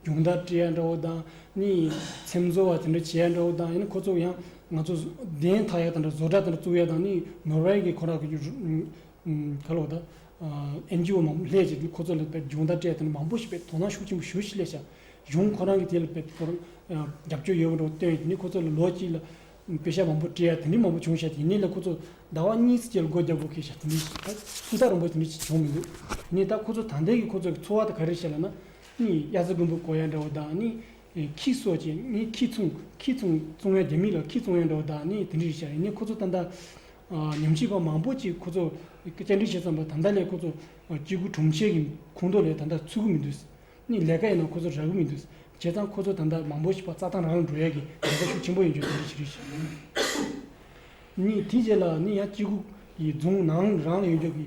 S3: སྦྱོང་བརྡར་བཀྲི་ཡ་འདྲ་བོ་དང་གཉིས་ཡིན། ཚེམ་བཟོ་བ་དེ་འདྲ་བྱེད་ཡ་འདྲ་བོ་དང་ཡིན་ཁོ་ཚོ་ཡང་ང་ཚོ་བདེན་ཐག་ཡ་དང་འདྲ་བཟོ་གྲྭ་དེ་འདྲ་བཙུགས་ཡ་དང་གཉིས་ནོར་ཝེ་གི་ཁོ་རང་གི་ག་ལོག་ད་ཨེན་ཇི་ཨོ་མང་པོ་ལྷས་བྱས་ཁོ་ཚོ་ལ་བལ་སྦྱོང་བརྡར་བཀྲི་ཡ་དེ་འདྲ་མང་པོ་ཞིག་བལ་དོ་སྣང་ཤུགས་ཆེན་པོ་ཞུ་ཞིག་ལས་བྱ་གཞུང་ཁོ་རང་གི་དེ་ལ་བལ་པོར་རྒྱབ་སྐྱོར་ཡོད་པ་འདྲ་བོ་སྟོན་ཡ་དེ་འདྲས་ཁོ་ཚོ་ལ་ལོ་གཅིག་ལ་བལ་ཤ་མང་པོ་བཀྲི་ཡ་དེ་འདྲས་མང་པོ་བྱུང་ཤ་དེ་ནས་ལ་ཁོ་ཚོ་ཟླ་བ་གཉིས་སུ་བཅད་ལ་སྒོ་རྒྱབ་བོ་ཁེ་ཤ་དེ་འདྲས་ད་སུམ་རྟགས་རིང་པོ་དེ་འདྲས་ཅིག་བྱུང་མི་འདུག་དེ་ནས་ད་ཁོ་ཚོ་ད་ལྟའི་གི་ཁོ་ཚོ་གི་འཚོ་བ་ད་ག་རེ་བྱེད་ལ་ན། གཉིས་དབྱར་རྩྭ་དགུན་འབུ་གོ་ཡ་འདྲ་བོ་དག་ནི། ཁྱི་གསོ་བྱེད་གཉིས་ཁྱི་ཚུང་ཁྱི་ཚུང་བཙོང་ཡ་རྒྱ་མི་ལ་ཁྱི་བཙོང་ཡ་འདྲ་བོ་དག་ནི་དེ་འདྲའི་རིགས་བྱ་རེད་ནི་ཁོ་ཚོ་ད་ལྟ། ཉམས་ཞིབ་པ་མང་པོ་ཅིག་ཁོ་ཚོ་བསྐྱར་འབྲི་བྱེད་བརྩམས་པ་ད་ལྟ་ལས་ཁོ་ཚོ་སྐྱེ་རྒུ་གྲོང་ཁྱེར་གྱི་ཁོངས་གཏོགས་ལས་ད་ལྟ་ཚུད་གི་མི་འདུག་ནི་ལས་ཀ་ཡིན་ན་ཁོ་ཚོ་རག་གི་མི་འདུག་བྱས་ཙང་ཁོ་ཚོ་ད་ལྟ་མང་པོ་ཞིག་པ་རྩྭ་ཐང་རང་ལ་འགྲོ་ཡ་གི་འགལ་ཟླ་ཤུགས་ཆེན་པོ་ཡོད་རྒྱུ་དེ་འདྲའི་བྱེད་རིགས་བྱེད་ནི། དེའི་རྗེས་ལ་ནི་ཡང་སྐྱེ་རྒུ་ཡི་རྫོང་ནང་རང་ལ་ཡོད་རྒྱུ་གི་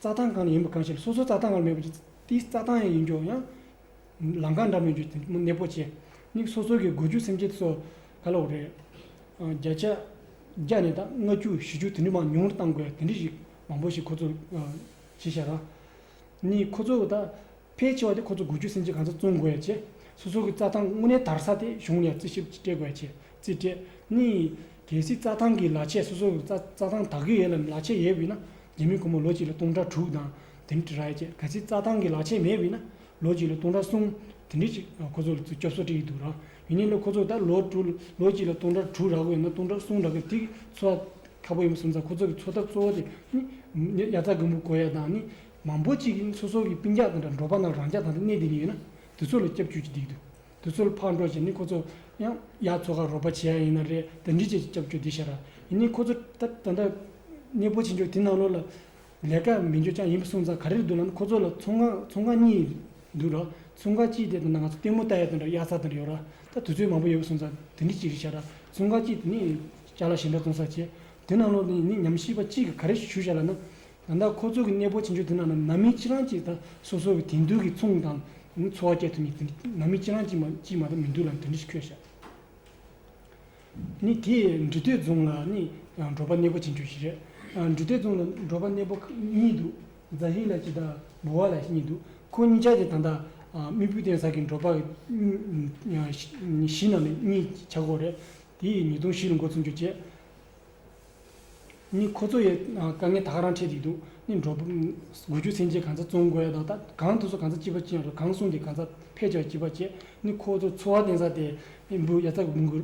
S3: རྩྭ་ཐང་གང་ནས་ཡིན་པ་གང་ཤེས་ལ་སོ་སོའི་རྩྭ་ཐང་བར་མེད་པ་དེའི་རྩྭ་ཐང་ཡིན་རྒྱུ་ཡང། ལམ་ཁ་འདྲ་མིན་རྒྱུ་དེ་གནས་སྤོ་བྱེད་མིག་སོ་སོ་གི་དགོས་རྒྱུ་སེམས་ཁྱེད་སོགས་ག་ལ་འོ་རེད། བརྒྱ་ཆ་བརྒྱ་ནས་ད་ལྔ་བཅུ་བཞི་བཅུ་དེ་འདྲི་མང་ཉུང་རུ་བཏང་དགོས་དེ་འདྲི་ཞིག་མང་པོ་ཞིག་ཁོ་ཚོ་བྱེད་བཞག་ག་ནི་ཁོ་ཚོ་ད། ཕལ་ཆེ་བ་དེ་ཁོ་ཚོ་དགུ་བཅུ་སུམ་ཅུ་གང་ཚོད་བཙོང་དགོས་ཡས་ཆེ། སོ་སོ་གི་རྩྭ་ཐང་དངོས་གནས་དར་ས་དེ་གཞུང་ལས་རྩིས་ཞིབ་སྤྲད་དགོས་ཡས་ཆེ་རྩིས་སྤྲད། གཉིས། གལ་སྲིད་རྩྭ་ཐང་གི་ལ་ཆས་སོ་སོ་གི་རྩ་རྩྭ་ཐང་དག་གི་ཡས་ལ་ལ་ཆས་ཡས་བུད་ན། རྒྱལ་མི་ཁོ་མོ་ལོ་གཅིག་ལ་སྟོང་ཕྲག་དྲུག་དང་དེ་འདྲི་ར་ཡས་ཆེ་གལ་སྲིད་རྩྭ་ཐང་གི་ལ་ཆས་མས་བུད་ན། ལོ་གཅིག་ལ་སྟོང་ཕྲག་གསུམ་དེ་འདྲི་ཅིག་ཁོ་ཚོ་ལ་ཚུ་སྐྱོབ་སོ་སྤྲད་ཡས་འདུག་ར། ཡིན་ནའི་ལོ་ཁོ་ཚོ་ད་ལོ་དྲུག་ལོ་གཅིག་ལ་སྟོང་ཕྲག་དྲུག་རག་གི་ཡོད་ན་སྟོང་ཕྲག་གསུམ་རག་གི་དེ་གི་འཚོ་བ་ཁ་པོ་ཡིན་པ་སུ་མཚང་ཁོ་ཚོ་གི་འཚོ་ཐབས་གཙོ་བོ་དེ་ནི། ཡ་རྩྭ་རྒུན་འབུ་བརྐོ་ཡས་དང་ནི། མང་པོ་གཅིག་གིས་སོ་སོ་གི་པིང་རྒྱག་དེ་འདྲ་འབྲོག་པ་རྣམས་རང་ཅག་དང་རིག་གནས་འདི་ནས་ཡོད་ན་དེ་ཚོ་ལ་སྐྱབས་བཅོལ་གྱི་སྡིག་ཏུ། དེ་ཚོ་ལ་ཕར་འགྲོ་བྱས་ནས་ཁོ་ཚོ་ཡང་ཡག་ཚོ་ཁར་རོགས་པ་བྱེད་ཡག་ཡིན་ན་རེད་དེ་འདྲི་བྱས་ཀྱི་སྐྱབས་བཅོལ་སྡིག་བཤགས་ར་ཡིན་ནས་ཁོ་ཚོ་ད་ལྟ་གནས་སྤོ་བྱེད་འཇུག་དེ་ནང་ལོགས་ལ་ལས་ཀ་མི་འཇོ་ཅག་ཡིན་པ་སོང་ཙང་ག་རེར་འདུག་ལ་ཁོ་ཚོ་ལ་ཚོང་ཁང་ཚོང་ཁང་གཉིས་འདུག་ར་ཚོང་ཁང་གཅིག་དེ་དང་ན་ང་ཚོ་ལྟད་མོ་ལྟ་ཡ་དེ་འདྲ་གཡག་རྩྭ་དེ་འདྲ་ཡོད་ར་ད་དུས་ཚོད་མང་པོ་ཡོད་པ་སོང་ཙང་དེ་འདྲི་བྱེད་རིག་བཤགས་ར་ཚོང་ཁང་གཅིག་དེ་ནས་ལྕགས་ལ་ཞེ་འདྲ་བཙོང་ས་བྱེད་དེ་ནང་ལོགས་ནས་ནི་ཉམས་ཞིབ་པ་གཅིག་གིས་ག་རེ་ཞུ་བྱས་ལ་ན་ད་ལྟ་ཁོ་ཚོ་གི་གནས་སྤོ་བྱེད་འཇུག་དེ་ནང་ན་ནང་མི་གཅིག་རང་གཅིག་དང་སོ་སོ་གི་དེང་དུས་ཀྱི་མཚུངས་དང་འཚོ་བ་བསྐྱལ་ཐུབ་ངེས་དེ་ནང་མི་གཅིག་རང་གཅིག་མ་གཅིག་མ་གཏོགས་མི་འདུག་ལ་དེ་འདྲི་ཁོས་བཤད། ནི་དེས་འབྲི་སྟོད་རྫོང་ལ་ནི་འབྲོག་པ་གནས་སྤོ་བྱེད་འཇུག་ཞིག་རེད། འབྲི་སྟོད་རྫོང་ལ་འབྲོག་པ་གནས་སྤོ་གཉིས་འདུག་རྫ་ཧི་ལ་གཅིག་དང་འབུ་བ་ལ་གཉིས་འདུག་ཁོ་གཉིས་ཅག་གིས་ད་ལྟ་རྨིད་བུ་གཏན་ས་གི་འབྲོག་པ་གཞིས་ནང་ནས་གཉིས་བྱ་དགོས་རེད་དེ་ཡིས་ཉིས་སྟོང་བཞི་རུ་འགོ་ཚུགས་འཇུག་བྱས། ནི་ཁོ་ཚོ་ཡི་དཀའ་ངལ་ཐག་རང་འཕྲད་ཀྱི་འདུག་ནི་འགྲོ་དགུ་རྒྱུ་ཚན་ཆེ་གང་ཚ་བཙོང་དགོས་ཡ་ད་ལྟ་གང་དུ་སུ་གང་ཚ་སྐྱིད་པ་སྐྱིད་ཡང་རེད་གང་སུང་དེ་གང་ཚ་ཕེ་ཆག་སྐྱིད་པ་སྐྱིད་ནི་ཁོ་ཚོ་འཚོ་བ་བརྟེན་ས་དེ་འབུ་ཡ་ཚ་འབུ་འགུ་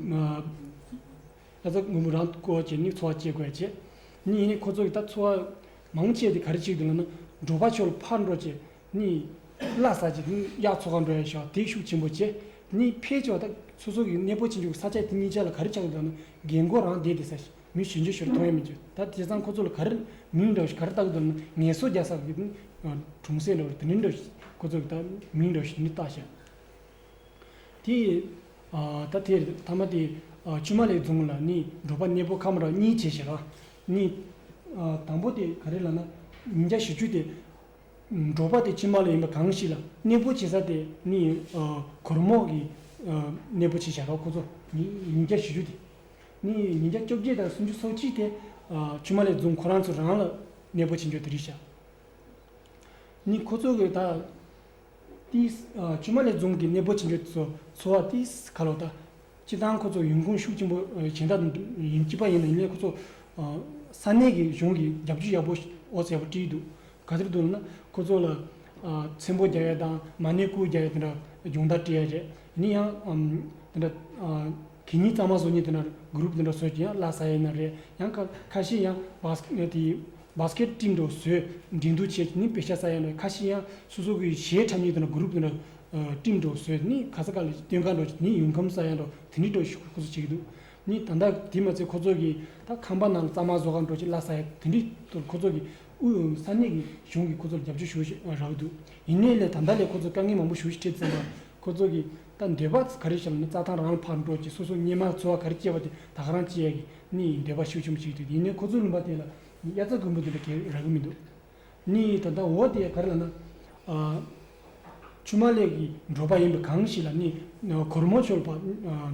S3: ཡ་ཚ་འབུ་འབུ་རང་བཀོལ་བྱས་ནི་འཚོ་བ་སྐྱེལ་དགོས་ཡ་ནི་ཁོ་ཚོ་ཡི་ད་འཚོ་བ་མང་བོ་སྐྱེལ་དེ་ག་རེ་བྱེད་དགོས་ལ་ན་འབྲོག་པ་ཆོས་ལ་ཕར་འགྲོ་ཅེས་གཉིས། བླ་ས་ཅིག་གིས་གཡག་མཚོ་ཁ་འགྲོ་ཡ་ཞོག་དེ་ཤུགས་ཆེན་པོ་བྱས། གཉིས་ཕས་ཆོག་ད། སོ་སོ་གིས་གནས་སྤོ་བྱེད་འཇུག་ས་ཆ་དེ་གཉིས་ཆ་ལ་ག་རེ་ཆགས་ཡོད་དམ། རྒན་མགོ་རང་བསྡད་དེ་ས་ཞིག་མི་ཞུ་འཇུ་ཞོར་མཐོང་ཡ་མི་འཇུ་ད་དེ་ཚང་ཁོ་ཚོ་ལ་ག་རེ་མིང་འགྲོ་ཞིག་ག་རེ་བཏགས་དགོས་དམ་ངལ་གསོ་རྒྱག་ས་དགོས་དམ། གྲོང་གསེབ་ལོ་རེ་དེ་འདྲའི་འགྲོ་ཞིག་ཁོ་ཚོ་གིས་ད་མིང་འགྲོ་ཞིག་འདི་བཏགས་ཤག། དེ། ད་དེ་རེད་ཐ་མ་དེ། ཆུ་མ་ལེགས་རྫོང་ལ་ནི་འབྲོག་པ་གནས་སྤོ་ཁ་མ་རོག་གཉིས་བྱས་ཞག། གཉིས། དང་པོ་དེ་ག་རེ་ལ་ན། ཉིན་བརྒྱ་བཞི་བཅུ་དེ། འབྲོག་པ་དེ་ཕྱི་མ་ལ་ཡིན་པ་གང་ཞིག་ལ་གནས་སྤོ་བྱེད་ས་དེ་ནི་གོར་མོག་གི་གནས་སྤོ་བྱེད་བྱ་བ་ཁོ་ཚོ། ཉིན་བརྒྱ་བཞི་བཅུ་དེ་ནི་ཉིན་བརྒྱ་བཅོ་བརྒྱད་དང་སུམ་ཅུ་སོ་གཅིག་དེ་ཕྱི་མ་ལས་བརྫུན་ཁོ་རང་ཚོ་རང་ལ་གནས་སྤོ་བྱེད་འཇོག་དེ་རིགས་བྱ། ནི་ཁོ་ཚོ་གི་ད་ཏི། ཕྱི་མ་ལས་བརྫུན་གྱི་གནས་སྤོ་བྱེད་འཇོག་ཚོ་འཚོ་བ་ཏི་ག་ལོག་ད། སྤྱི་བཏང་ཁོ་ཚོ་ཡོང་ཁུངས་ཤུགས་ཆེན་པོ་ཇི་འདྲ་ཡིན་སྐྱིད་པ་ཡིན་ན་ཡིན་ལེ་ཁོ་ཚོ་ས་གནས་ཀྱི་གཞུང་གིས་རྒྱབ་སྐྱོར་ཡག་པོ་འོ་ཟེར་བ་བྲིས་འདུག་ག་ཚོད་འདུག་ན་ཁོ་ཚོ་ལ་ཚེམ་བུ་རྒྱག་ཡ་དང་མ་ཎི་སྐུ་རྒྱག་ཡ་དེ་འདྲ་སྦྱོང་བརྡར་བྲིས་ཡ་རེད་ཡིན་ཡང་དེ་འདྲ་གད་སྙིགས་གཙང་མ་བཟོ་གཉིས་དེ་འདྲ་གུརུབ་དེ་འདྲ་བཟོས་ཀྱི་ཡང་བླ་ས་ཡིན་ན་རེད་ཡང་ཁ་ཁ་ཤས་ཡང་བཱ་སི་ཀེད་བཀྲིས་འདུག་བཟོས་འབྲི་འདུག་བྱས་ཀྱི་ནི་བེ་ཤ་ས་ཡིན་ན་རེད་ཁ་ཤས་ཡང་སོ་སོ་གི་གཞས་འཁྲབ་གཉིས་དེ་འདྲ་གུརུབ་དེ་འདྲ། སྤྲིན་འགྲོ་བཟོས་ནི་ག་ས་ག་ལ་ཡིན་སྟོན་ཁ་འགྲོ་བྱེད་ནི་ཡུལ་ཁམས་ས་ཡ་འགྲོ་དེ་འདྲའི་འགྲོ་ཞུགས་ཁོ་ཚོ་བྱེད་ཀྱི་འདུག་ནི་ད་ལྟ་དེ་མ་ཚད་ཁོ་ཚོ་གིས་ད་ཁང་པ་ནང་ལ་གཙང་མ་བཟོ་ཁར་འགྲོ་བྱེད་གླ་ས་ཡ་དེ་འདྲའི་དུ་ཁོ་ཚོ་གིས་དབུས་ས་གནས་ཀྱི་གཞུང་གིས་ཁོ་ཚོར་རྒྱབ་སྐྱོར་ཞུ་བཞིན་རག་གི་འདུག་ཡིན་ནའི་ལས་ད་ལྟ་ལས་ཁོ་ཚོས་དཀའ་ངལ་མང་པོ་ཞུ་བཞིན་ཁྲིད་ཙམ་པར་ཁོ་ཚོ་གིས་ད་འདོད་པ་ག་རེ་བྱེད་ལ་ནི་རྩྭ་ཐང་རང་ལ་ཕར་འགྲོ་བྱེད་སོ་སོ་སྙེ་མ་འཚོལ་བ་ག་རེ་སྐྱེལ་བ་དེ་དག་རང་སྐྱེལ་གི་ནི་ཡིན་འདོད་པ་ཤུགས་ཆེན་པོ་བྱེད་ཀྱི་འདུག་ཡིན་ནའི་ཁོ་ཚོའི་ལུང་པ་དེ་ལ་ནི་དབྱར་རྩྭ་དགུན་འབུ་འདི་འདྲ་གས་རག་གི་མི་འདུག་ནི་ད་ལྟ་འོ་དེ་ག་རེ་ལ་ན། ཆུ་མ་ལེགས་ཀྱི་འབྲོག་པ་ཡིན་པ་གང་ཞིག་ལ་ནི་གོར་མོ་ཆོལ་བ་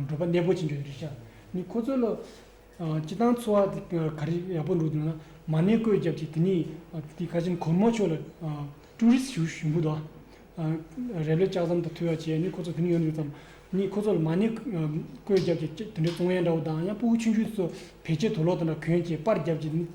S3: འབྲོག་པ་གནས་སྤོ་བྱེད་འཇུག་རེད་བྱ། ནི་ཁོ་ཚོ་ལ་སྤྱི་བཏང་འཚོ་བ་དེ་ག་རེ་ཡག་པོ་འགྲོ་འདུག་ན་མ་གནས་བཀོད་བརྒྱབ་ཅིག་དེ་ནི་དེ་ག་ཅིན་གོར་མོ་ཆོལ་ལ་ཀྲུའུ་རིས་ཞུ་ཞུ་འགོ་དོ། རེ་ལོས་ལྕགས་ཟམ་དང་ཐུལ་བ་བྱས་ནི་ཁོ་ཚོ་དེ་ནི་ཡོད་ཡོད་ཙམ། ནི་ཁོ་ཚོ་ལ་མ་གནས་བཀོད་བརྒྱབ་ཅིག་དེ་འདྲའི་ཙོང་ཡན་འདྲ་བོ་དང་ཡང་སྤུ་གུ་ཆུང་ཆུང་དེ་ཚོ་བེད་སྤྱད་དོ་ལོག་དང་འདྲ་གོན་ཅིག་པར་བརྒྱབ་ཅིག་ནི།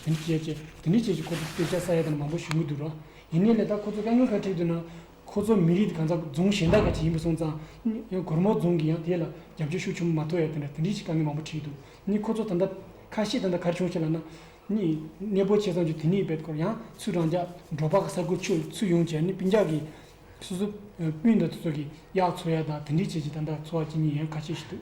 S3: དེ་ནི་སྤྱད་ཅེས་དེ་ནི་སྤྱད་ཅེས་ཁོ་ཚོ་སྐད་ཆ་ས་ཡ་དང་མང་པོ་ཞུ་གི་འདུག་རོགས་ཡིན་ནའི་ལས་ད་ཁོ་ཚོ་དཀའ་ངལ་ཁ་ཁྲིད་འདུག་ན་ཁོ་ཚོ་མི་རིགས་གང་ཟག་རྫུང་གཞན་དག་ག་ཅི་ཡིན་པ་སོང་ཙང་གོར་མོ་རྫུང་གི་ཡང་དེ་ལ་རྒྱབ་སྐྱོར་ཤུགས་ཆུང་མ་ཐོ་ཡ་དེ་འདྲ་དེ་འདྲི་ཞིག་དཀའ་ངལ་མང་པོ་ཁྲིད་འདུག་ནི་ཁོ་ཚོ་ད་ལྟ་ཁ་ཤས་ད་ལྟ་གར་བྱུང་ཞེས་ལ་ན་ནི་གནས་སྤོ་བྱས་ཙང་ཆུ་དེ་ནི་བེད་ཁོར་ཡང་ཚུར་རང་འཇག་འབྲོག་པ་ག་ས་དགུ་ཆུ་ཚུད་ཡོང་བྱས་ནི་སྤུན་འཇག་གི་སོ་སོ་སྤུན་ད་དུ་ཚོ་གི་གཡག་འཚོ་ཡ་དང་དེ་འདྲི་བྱས་ཅི་ད་འདྲ་འཚོ་བ་ཅི་ཉིན་ཡང་ག་ཤས་ཤིག་འདུག།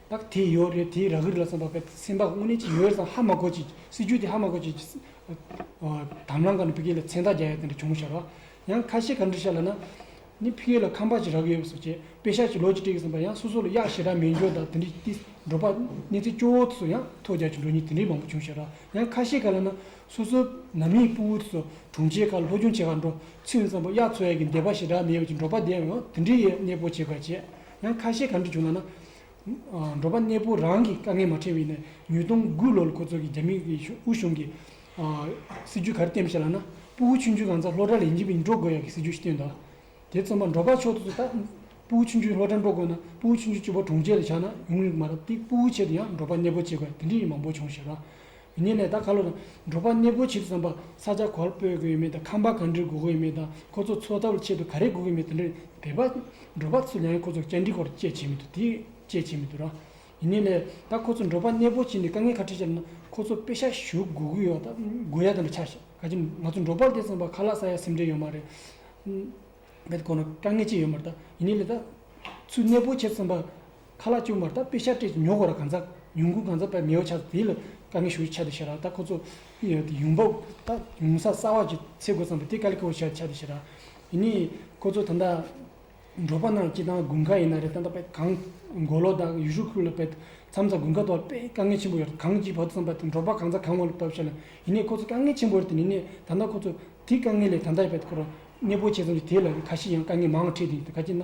S3: བདག་དེ་ཡོད་རེད་དེ་རག་གི་རེད་ལབ་ཙང་བདག་པད་སེམས་དཔའ་དངོས་གནས་ཅིག་ཡོད་ཙང་ཧ་མ་གོ་ཅིག་སྲིད་ཇུས་དེ་ཧ་མ་གོ་ཅིག་དམ་ལམ་ག་ནས་བི་ཀེ་ལ་མཚན་རྟགས་རྒྱག་ཡོད་དེ་འདྲ་བྱུང་ཤག་རོགས་ཡང་ཁ་ཤས་ག་འདྲི་ཤག་ལ་ན་ནི་བི་ཀེ་ལ་ཁམས་པ་ཅིག་རག་གི་ཡོད་པ་སོགས་བྱས་དཔེ་ཤག་ཅིག་ལོ་ཅིག་སྤྲད་གི་སོང་པ་ཡང་སོ་སོ་ལ་གཡག་ཞེ་དྲག་མེད་འགྱོ་བདག་དེ་འདྲི་སྟེ་འགྲོ་པ་གནས་ཚེ་སྐྱོ་བོ་དེ་ཚོ་ཡང་ཐོ་རྒྱག་ཅིག་འགྲོ་ཉིན་དེ་འདྲའི་མང་པོ་བྱུང་ཤག་རོགས་ཡང་ཁ་ཤས་ག་ལ་ན་སོ་སོ་ནང་མིའི་སྤུ་བོ་དེ་ཚོ་དྲུང་ཆེ་ག་ལ་ལྷོ་ཆུང་ཆེ་ག་ལ་འགྲོ་ཚེ་འུ་ཚང་པོ་གཡག་འཚོ་ཡག་གི་འདས་པ་ཞེ་དྲག་མེད་པ་ཅིག་འགྲོ་པ་དེ་ཡང་དེ་འདྲའི་གནས་སྤོ་བྱས་ག་བྱས། ཡང་ཁ་ཞེ་གང་གིས་བྱུང་ལགས་ན། འབྲོག་པ་གནས་སྤོ་རང་གིས་དཀའ་ངལ་མ་ཕྲན་བས་ནས་ཉོས་སྟོང་དགུ་ལོར་ཁོ་ཚོ་གིས་རྒྱ་མི་གིས་དབུས་གཞུང་གིས་སྲིད་ཇུས་ག་རེ་བསྟན་ཞེས་ལགས་ན། སྤོ་བོ་ཆུང་ཆུང་གང་ཚ་ལྷོ་བྲ་ལས་འཇིག་པའི་འབྲོག་དགོས་ཡག་གི་སྲིད་ཇུས་ཤིག་བསྟན་འདུག་དེ་རྩོམ་པ་འབྲོག་པ་ཕྱོགས་དུ་ཚོ་ལྟ། སྤོ་བོ་ཆུང་ཆུང་ལྷོ་བྲ་འབྲོག་དགོས་ན་སྤོ་བོ་ཆུང་ཆུང་སྤྱི་བོ་གྲོང་ཁྱེར་ལ་ཆགས་ན་ཡོང་གི་མ་རེད་དེ་སྤོ་བོའི་ཆེད་དུ་ཡང་འབྲོག་པ་གནས་སྤོ་བྱེད་དགོས་དེ་འདྲའི་ཡིག་མང་པོ་བྱུང་ཞེས་ལགས། དེ་ནས་ལས་དང་ཁ་ལོ་དང་འབྲོག་པ་གནས་སྤོ་ཕྱིར་བརྩམས་པ་ས་ཆ་ག་ལ་སྤོས་དགོས་ཡོད་མེད་དང་ཁང་པ་ག་འདྲི་དགོས་ཡོད་མེད་དང་ཁོ་ཚོ་འཚོ་ཐབས་ཆེད་དུ་ག་རེ་དགོས་ཀྱི་མེད་དེ་འདྲ་བས་པ་འབྲོག་པ་ཚོས་ལན་ཁོ་ཚོར་བཅར་འདྲིའི་སྐོར་དཔྱད་བྱས་མི་འདུག་དེ་དཔྱད་བྱས་མི་འདུག་ར། དེ་ནས་ལས་དང་ཁོ་ཚོ་འབྲོག་པ་གནས་སྤོ་བྱས་ནས་དཀའ་ངལ་ཁ་ཁྲལ་བྱས་ན་ཁོ་ཚོ་དཔེ་ཤ་ཞུ་དགོས་ཀྱི་ཡོད་དགོས་ཡ་དེ་འདྲ་ཆགས་ག་གི་འདུག་ང་ཚོ་འབྲོག་པ་ལས་བརྩམས་པ་ཁ་ལ་ས་ཡ་སེམས་ཁྲལ་ཡོད་མ་རེད། པའི་སྐོར་ན་དཀའ་ངལ་ཅི་ཡོད་མ་རེད་ད། དེ་ནས་ལས་དང་ཚུལ་གནས་སྤོ་ཕྱིར་བརྩམས་པ་ཁ་ལག་བཅུག་མར་ད་དཔེ་ཤ་སྤྲད་ཅིག་ཉོ་གོ་ར་གང་ཚ་ཉུང་གུ་གང་ཚ་བས་མེའོ་ཆགས་དེ་ལ་དཀའ་ངལ་ཞུ་ཡི་ཆ་དེ་ཤེས་ར་ད་ཁོ་ཚོ་ཡུང་འབབ་ད་ཡུང་ས་ས་བ་ཅིག་ཚེ་དགོས་ཙམ་པས་དེ་དཀའ་ལས་ཁོ་བོ་ཤེས་ཡི་ཆ་དེ་ཤེས་ར་ཡིན་ནི་ཁོ་ཚོ་ད་ད་འབྲོག་པ་ནང་སྐྱིད་ཐང་དགུན་ཁ་ཡིན་ན་རེད་ད་ད་པས་གང་མགོ་ལོག་ད་ཡུ་ཤུ་ཁུག་ལ་བས་མཚམས་ད་དགུན་ཁ་དོག་ལ་བས་དཀའ་ངལ་ཆེན་པོ་ཡོད་ར་གང་ཅིག་བ་ཙམ་པ་ད་འབྲོག་པ་གང་ཚ་གང་མགོ་ལོག་བབ་ཤེས་ལ་ཡིན་ནི་ཁོ་ཚོ་དཀའ་ངལ་ཆེན་པོ་རེད་དེ་ནི་ནས་ད་ད་ཁོ་ཚོ་དེ་དཀའ་ངལ་ལས་ད་ད་ཡི་བས་ཁོ་ར་གནས་སྤོ་བྱས་ཙམ་ཅིག་དེ་ལ་ཁ་ཤི་ཡང་དཀའ་ངལ་མང་ང་ཁྲིད་དེ་ཡིན་ད་ག་ཅིག་ན་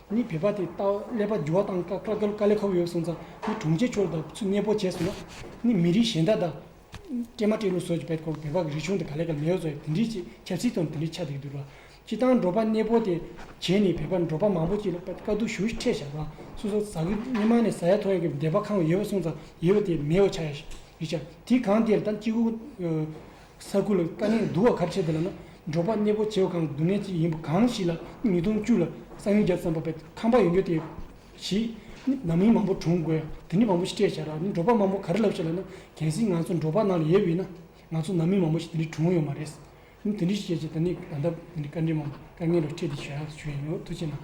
S3: ནི་བོད་པ་དེ་ལྟ་བ་ཀླད་པ་འགྱུར་བ་དང་ཀ་ཀ་ཀོལ་ཀ་ལས་ཁོག་ཡོད་སོང་ཙང་ནི་དྲུང་ཆེ་མཆོག་ལ་དག་ཚུལ་གནས་སྤོ་བྱས་སོང་ན་ནི་མི་རིགས་གཞན་དག་དང། སྤྲེལ་མ་སྤྲེལ་ལོ་སོགས་ཀྱི་བེད་ཁོག་བོད་པ་གི་རིག་གཞུང་དེ་ག་ལས་ག་ལས་ཡོད་སོགས་དེ་འདྲིའི་ཆེ་ཆབ་སྲིད་དང་དེ་འདྲིའི་ཆ་དེ་འདུལ་བ། སྤྱི་བཏང་འབྲོག་པ་གནས་སྤོ་དེ་བྱས་ནས་བོད་པ་འབྲོག་པ་མང་པོ་ཅིག་ལ་ཀ་ཀ་དུ་ཞུ་ཤི་ཁྲེ་བཞག་དང་སུ་སོགས་ཟ་གི་སྨིན་མ་ནས་ཟ་ཡ་ཐོ་ཡ་གི་འདེབས་པ་ཁང་ཡོད་སོང་ཙང་ཡོད་པ་དེ་མེའོ་ཆ་ཡ་ཞིག་རིག་བྱ་དེ་གང་དེར་དང་སྤྱི་ཁུག་ས་ཁུལ་ལ་དཀའ་ངལ་བསྡུར་བ་གབ་ཆེ་དེ་ལ་ན་འབྲོག་པ་གནས་སྤོ་བྱེད་པ་གང་ལ་སྡུག་བསྔལ་ཅི་ཡིན་པ་གང་ཞིག་ལ་ཉིས་སྟོང་བཅུ་ལ་གསང་ཉུལ་བརྒྱབ་ཙམ་པ་བས་ཁང་པ་ཡོང་རྒྱུ་དེ་བཞིན་ན་མི་མང་པོ་གྲོངས་དགོས་ཡ་དེ་ནི་མང་པོ་ཞིག་སྤྲད་བྱ་ར་ནི་འབྲོག་པ་མང་པོ་ག་རེ་ལབ་བྱེད་ལ་ན་གལ་སྲིད་ང་ཚོ་འབྲོག་པ་ནང་ལ་ཡོད་པ་ཡིན་ན་ང་ཚོ་ནང་མི་མང་པོ་ཞིག་དེ་འདྲའི་གྲོངས་ཡོང་མ་རེད་ནི་དེ་འདྲའི་ཞིག་བྱས་བྱས་ད་ནི་ད་ལྟ་དཀའ་འགྲེལ་མང་དཀའ་ངལ་ལ་འཕྲད་དེ་བྱས་ར་ཞུ་ཡིན་ནོ་ཐུགས་ཆེ་གནང།